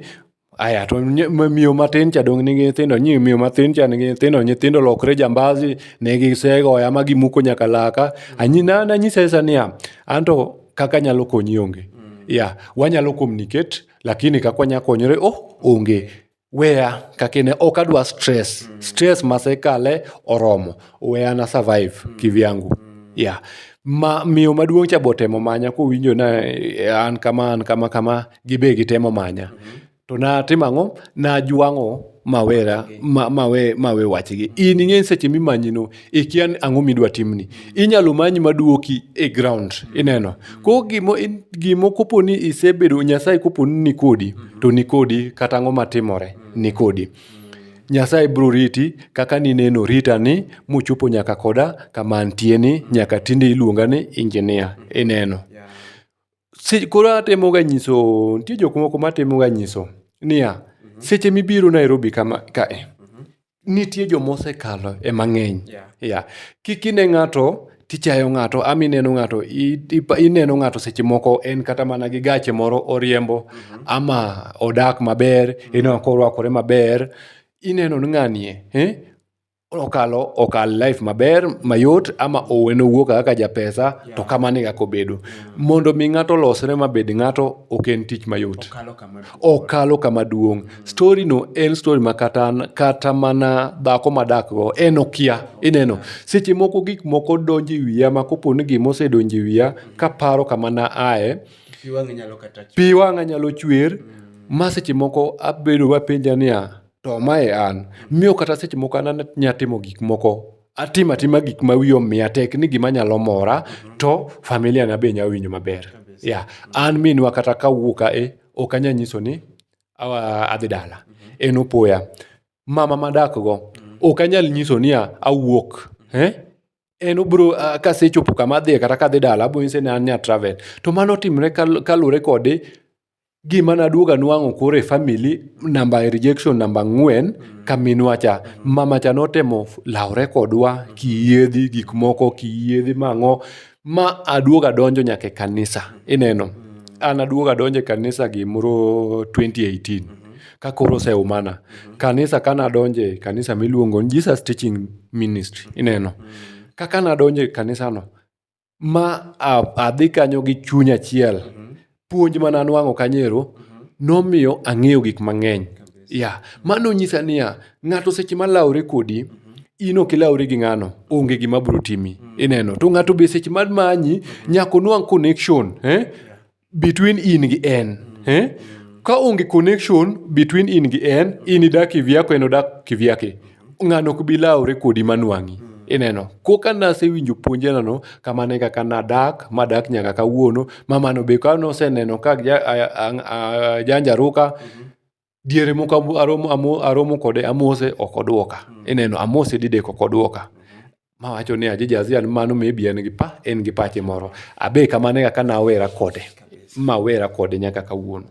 [SPEAKER 1] aya to ny- ma- miyo matin cha dong' nigi nyithindo nyi miyo matin cha nigi nyithindo nyithindo lokre jambazi ne gisegoya ma gimuko nyaka laka anyi na nanyisa isa niya an to kaka nyalo konyi onge mm. yeah wanyalo communicate lakini kaka wanya konyore oh onge weya kakine ok adwa stress mm. stress masekale oromo weya na survive mm. kivyangu mm. yeah ma miyo maduong' cha botemo manya kowinjo na eh, an kama an kama kama gibe gitemo manya mm -hmm. To natimo ang'o? Najwang'o mawera ma- mawe mawe wachgi. In ing'e ni seche mimanyino ikia ni ang'o midwa timni. Inyalo manyi maduoki e ground ineno. Ko gimo in- gimo kopo ni isebedo Nyasaye kopo ni nikodi to nikodi kata ang'o matimore nikodi. Nyasaye biro riti kaka nineno rita ni muchopo nyaka koda kama antie ni nyaka tinde iluonga ni injinia ineno. Se koro atemoga nyiso, nitie jok moko matemoga nyiso niya, seche mibiro Nairobi kama kae, nitie joma osekalo e mang'eny. Yeah. Yeah. Kik ine ng'ato tichayo ng'ato, ama ineno ng'ato, i- ipa- ineno ng'ato seche moko en kata mana gi gache moro oriembo, ama odak maber, ineno korwakore maber, ineno ni ng'anie, eh? okalo okal life maber mayot ama owene owuo kaka japesa yeah. to kamano e kaka obedo yeah. Mm. mondo mi ng'ato olosre mabed ng'ato ok en tich mayot okalo kama duong' mm. story no en story ma kata, kata mana dhako madakgo en okia ineno yeah. seche moko gik moko donjo e wiya ma kopo ni gima osedonjo e wiya mm. kaparo kama na aye pi wang'a nyalo chwer mm. ma seche moko abedo wapenja niya to ma e an. Miyo kata seche moko an anya timo gik moko, atimo atima gik ma wiya omiya tek ni gima nyalo mora to familia na be nya winjo maber. Yeah. An minwa kata ka awuok a e, ok anya nyiso ni awa- adhi dala. En opoya. Mama madak go, ok anyal nyiso ni a- awuok. Eh? En obro, ah, kasechopo kama adhiye kata kadhi dala, abro nyise ni an nya travel. To mano otimre kal- kaluwore kode Gima naduogo anwang'o koro e family namba e rejection namba ang'wen ka minwa cha. Mama cha notemo lawore kodwa kiyiedhi gik moko kiyiedhi mang'o ma aduogo adonjo nyaka e kanisa. Ineno, an aduogo adonjo e kanisa gimoro twenty eighteen ka koro oseumana. Kanisa ka nadonje kanisa miluongo ni Jesus Teaching Ministry, ineno. Kaka nadonje kanisano, ma adhi kanyo gi chuny achiel. Puonj mane anuang'o kanyo ero nomiyo ang'eyo gik mang'eny. Ya, mano nyisa niya, ng'ato seche ma lawore kodi, in ok ilawri gi ng'ano, onge gima biro timi. Ineno? To ng'ato be seche ma manyi, nyaka onuang' connection. Eh? between in gi en eh? ka onge connection between in gi en in idak kivyako en odak kivyake ng'ano ok bi lawre kodi manwang'i ineno koka nasewinjo puonjenano kamano e kaka nadak madak nyaka kawuono mamano be ka noseneno ka ja- a- a- a- ajanjaruka diere moko aromo, aromo, aromo kode amose ok odwoka mm. ineno amose didek ok odwoka mm -hmm. mawacho ni aji jazian mano maybe en gi pa en gi pache moro abe kamane kaka nawera kode mawera kode nyaka kawuono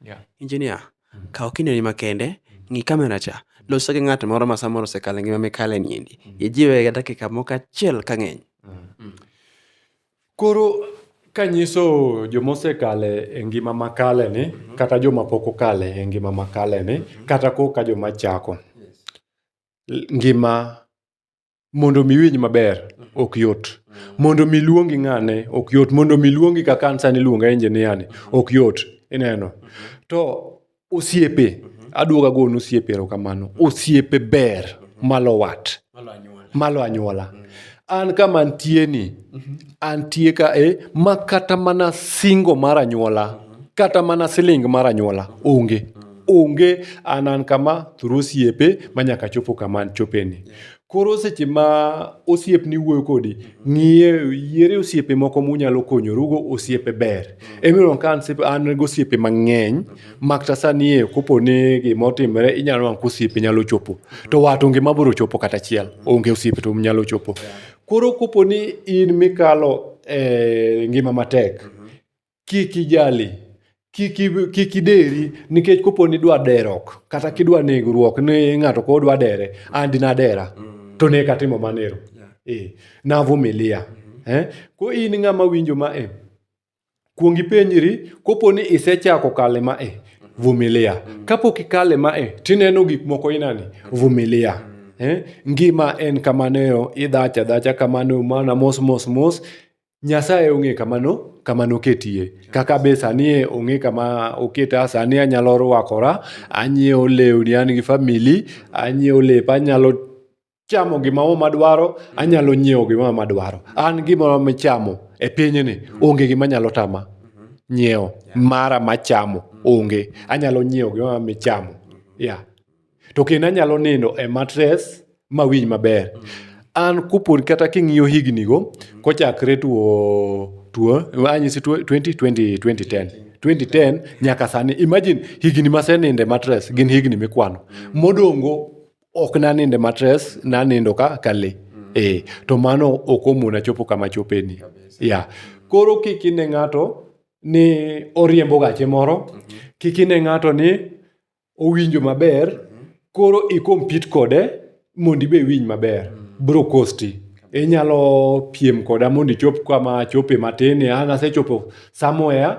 [SPEAKER 1] yeah. engineer mm -hmm. kaw kindeni makende ng'i kamera cha loso gi ng'at moro ma samoro osekale ngima mikale niendi mm. ijiwe ga dakika moko achiel ka ng'eny mm. mm. Koro kanyiso joma osekale e ngima ma kale ni kata joma pok okale e ngima ma kale ni kata koka joma chako. Ngima mondo mi iwinj maber ok yot. Mondo mi iluongi ng'ane ok yot. Mondo mi iluongi kaka an sani iluonga engineer ni ok yot. Ineno? To Osiepe, aduogo ago ne osiepe erokamano. Osiepe ber malo wat, malo anyuola. An kama antie ni, antie ka e ma kata mana singo mar anyuola, kata mana siling mar anyuola onge. Onge an an kama through osiepe ma nyaka achopo kama anchope ni. Koro seche ma osiepni wuoyo kodi, ng'iye yiere osiepe moko munyalo konyorugo, osiepe ber. Emiyo ka an go osiepe mang'eny, makta sani e kopo ni gima otimre inyalo wang' kosiepe nyalo chopo. To wat onge ma bro chopo kata achiel, onge osiepe to nyalo chopo. Koro kopo ni in mikalo e ngima matek, kik ijali kik ideri nikech kopo ni idwa derok kata kidwa negruok ni ng'ato koro dwa dere and nadera mm. to ne katimo manero eh, navumilia mm-hmm. eh? ko in ng'ama winjo ma e kuong ipenjri kopo ni isechako kale ma e vumilia mm. kapok ikale ma e tineno gik moko inani mm. vumilia mm. eh? ngima en kamaneo idhacha dhacha kamano mana mos mos mos Nyasaye ong'e kama no, kama noketie. Kaka be sani e ong'e kama oketa, sani anyalo rwakora, anyiewo lewni, an gi famili, anyiewo lep, anyalo chamo gima moro madwaro, anyalo nyiewo gima moro madwaro. An gimoro michamo e pinyni, onge gima nyalo tama nyiewo mara machamo, onge. Anyalo nyiewo gimoro amora michamo. Yeah. to kendo anyalo nindo e matres ma winj maber an kupon kata king'iyo hignigo kochakre tuo tuo anyisi tuo 2020 2010 2010 nyaka sani imagine higni maseninde matres gin higni mikwano modongo ok naninde matres nanindo ka kale eh to mano ok omona chopo kama chopeni ya koro kik ine ng'ato ni oriembo gache moro kik ine ng'ato ni owinjo maber koro i compete kode mondo ibe iwinj maber bro kosti inyalo piem koda mondo ichop kama achope matin an asechopo somewhere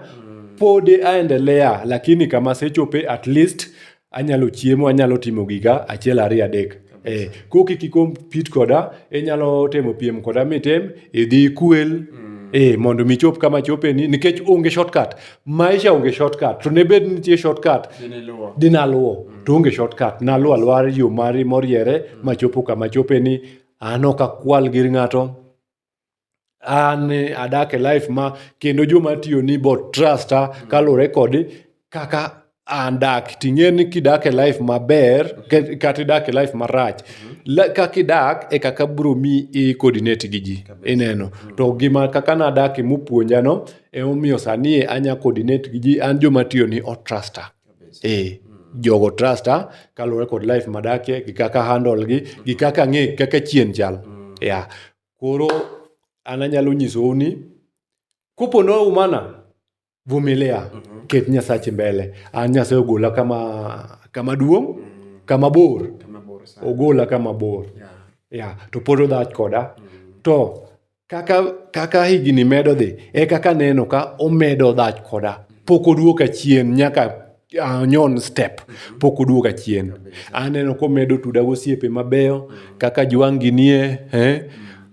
[SPEAKER 1] pod aendelea lakini kama asechope at least anyalo chiemo anyalo timo giga achiel ariyo adek. Eh, ko kik ikompit koda inyalo temo piem koda mitem idhi ikwel mm. eh, mondo michop kama chopeni nikech onge shortcut maisha onge shortcut to ne bed nitie shortcut dinaluwo mm. to onge shortcut naluwo aluwa yo mari moriere mm. machopo kama chopeni an ok akwal gir ng'ato an adak e life ma kendo joma atiyoni be o trust a kaluwore kod kaka an dak. Ting'e ni kidak e life maber kata idak e life marach, kaka idak e kaka biro miyi i coordinate gi ji, ineno. To gima kaka nadakie mopuonjano, emomiyo sani e anya coordinate gi ji, an joma atiyoni o trust a. Eh, jogo trusta kaluwore kod life madakie gi kaka handle gi gi kaka ang'e kaka chien chal. Yeah. Koro an anyalo nyisou ni kopo ni oumana, vumilia, ket Nyasachi mbele. An Nyasaye ogola kama kama duong', kama bor. Ogola kama bor. Yeah. To pod odhach koda. To Kaka higni medo dhi, e kaka aneno ka omedo dhach koda. Pok oduoka chien nyaka anyon step, pok oduoka chien. Aneno komedo tuda gosiepe mabeyo kaka Juang' Ginie,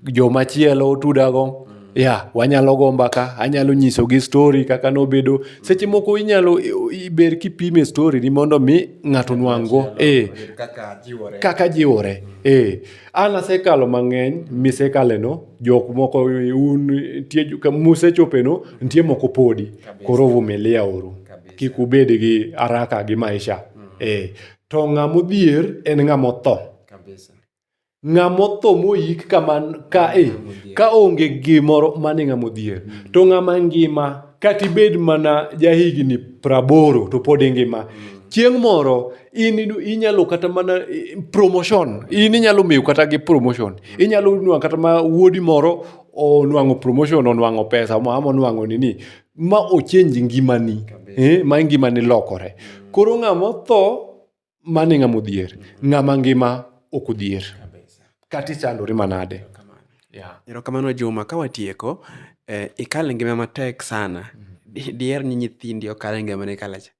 [SPEAKER 1] jomachielo otudago. Ya, wanyalo go mbaka, anyalo nyisogi stori kaka nobedo. Seche moko inyalo ber kipime stori ni mondo mi ng'ato onwang' go. Ee, kaka jiwore, ee. An asekalo mang'eny misekaleno, jok moko un nitie jo- ka musechopeno nitie moko podi. Koro vumilia uru. Kik ubed gi haraka gi maisha. Eh. To ng'ama odhier en ng'ama otho. Kabisa. Ng'ama otho moyik kaman ka eh, ka onge gimoro mane ng'ama odhier. To ng'ama ngima kata ibed mana jahigni praboro to pod ingima. Chieng' moro in inyalo kata mana promotion, in inyalo miyo kata gi promotion. Inyalo nwa kata ma wuodi moro onwang'o promotion, onwang'o pesa ama onwang'o nini. Ma o change ngimani, ma ngimani lokore. Koro ng'ama otho mano e ng'ama odhier. Ng'ama ngima ok odhier. Kata ichandori manade. Yeah. Erokamano Juma, ka watieko, eh, ikal e ngima matek sana. Di- Diher ni nyithindi okal e ngima nikalacha.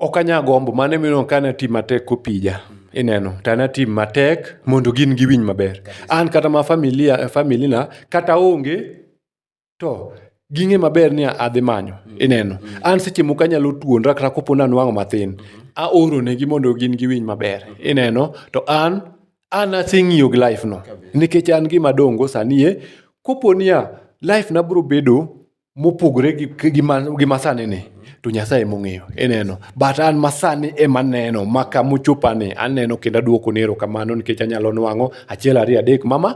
[SPEAKER 1] ok anya gombo mano emino ka na tim matek kopija ineno to ana tim matek mondo gin giwinj maber an kata ma familia familina kata onge to ging'e maber ni adhi manyo ineno an seche moko anyalo tuonra kata kopo ni anwang'o matin aoronegi mondo gin giwinj maber ineno to an an aseng'iyo gi life no nikech an gima dongo sani e kopo niya life na biro bedo mopogore gi, gi, ma, gi masani ni to nyasaye mong'eyo ineno but an masani ema neno maka mochopani aneno kendo aduoko ni erokamano nikech anyalo nwang'o achiel ariyo adek mama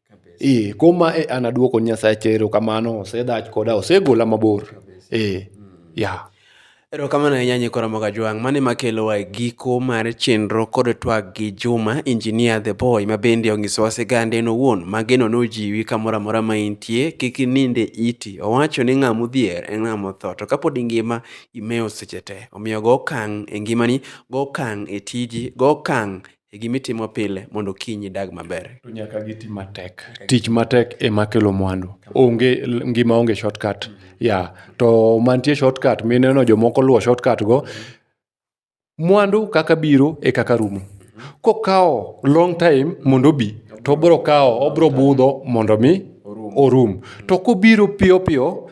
[SPEAKER 1] Ee, kom ma e an aduoko ni Nyasacha erokamano, osedhach koda, osegola mabor. Ee, ya. Erokamano ahinya Nyikwa Ramogi Ajwang'. Mano ema kelowa e giko mar chenro kod twag gi Juma, Engineer The Boy, ma bende onyisowa sigande en owuon ma geno nojiwi kamoro amora ma intie, kik inind e iti. Owacho ni ng'ama odhier en ng'ama otho, to kapod ingima, imewo seche te. Omiyo go okang' e ngimani, go okang' e tiji, go okang' e gima itimo pile mondo kiny idag maber. To nyaka giti matek. Tich matek ema kelo mwandu. Onge ngima onge shortcut. Mm -hmm. Yeah. To mantie shortcut mineno jomoko luwo shortcut go. Mwandu kaka biro e kaka rumo. Mhm. Kokawo long time mondo obi to obro kawo obro budho mondo mi orum. To kobiro piyo piyo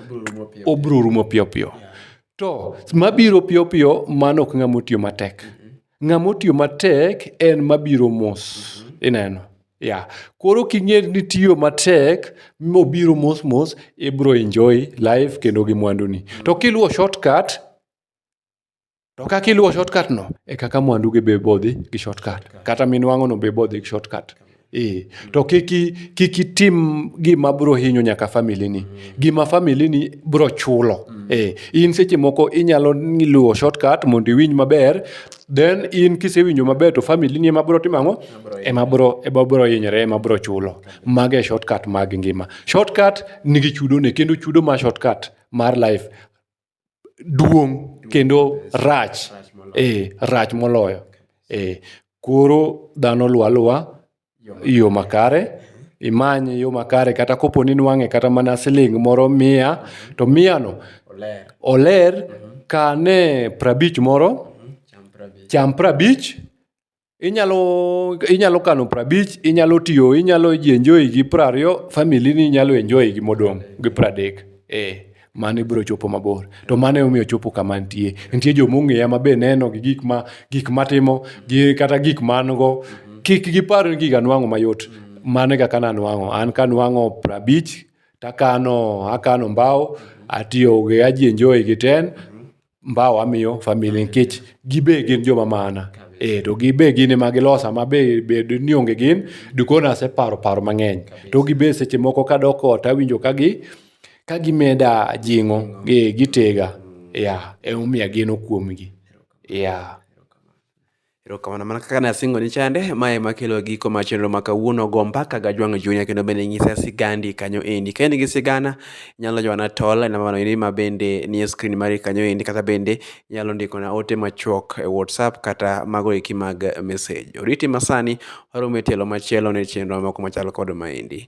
[SPEAKER 1] obro rumo piyo piyo. To mabiro piyo piyo mano ok ng'ama otiyo matek. Mm -hmm. Ng'ama otiyo matek en mabiro mos. Mm -hmm. Ineno? Yeah. Koro king'e ni tiyo matek mobiro mos mos ibro enjoy life kendo gi mwanduni. Mm -hmm. To kiluwo shortcut to kaka iluwo shortcut no e kaka mwandu gi be bodhi gi shortcut. Kata minwang'o no be bodhi gi shortcut. Ee, to kik i- kik itim gima biro hinyo nyaka familini gima familini biro chulo Ee, in seche moko inyalo ni- luwo shortcut mondo iwinj maber then in kisewinjo maber to familini ema biro timo ang'o ema biro ema biro hinyore ema biro chulo mago e shortcut mag ngima shortcut nigi chudone kendo chudo ma shortcut mar life duong' kendo rach e rach moloyo e koro dhano luwa luwa yo makare imany yo makare kata kopo ni nwang'e kata mana siling' moro mia to mia no oler kane prabich moro cham prabich Inyalo inyalo kano prabich, inyalo tiyo, inyalo ji enjoy gi prariyo, family ni nyalo enjoy gi modong' gi pradek. Eh, mano ibro chopo mabor. To mano emomiyo ochopo kama antie. Nitie joma ong'eya ma be neno gi gik ma gik matimo, gi kata gik ma an go. Kik gipar ni gik anwang'o mayot. Mano e kaka nanwang'o. An kanwang'o prabich, takano akano mbao, atiyo gi aji enjoy gi ten. mbawa miyo famili nikech gibe gin joma mana e to gibe gin ema gilosa ma be bed ni onge gin dikona aseparo paro mang'eny to gibe seche moko kadok ot awinjo ka gi ka gimeda jing'o e gitega ya emomiyo ageno kuomgi ya Erokamano mana kaka nasingo ni chande, ma ema kelo giko mar chenro ma kawuono go mbaka ga jwang'o chunya kendo bende nyisa sigandi kanyo endi. Ka in gi sigana, inyalo jwana tol e namba endi ma bende nie screen mari kanyo endi kata bende inyalo ndikona ote machuok e WhatsApp kata mago eki mag message. Oriti masani, waromo e tielo machielo ne chenro moko machal kod ma endi.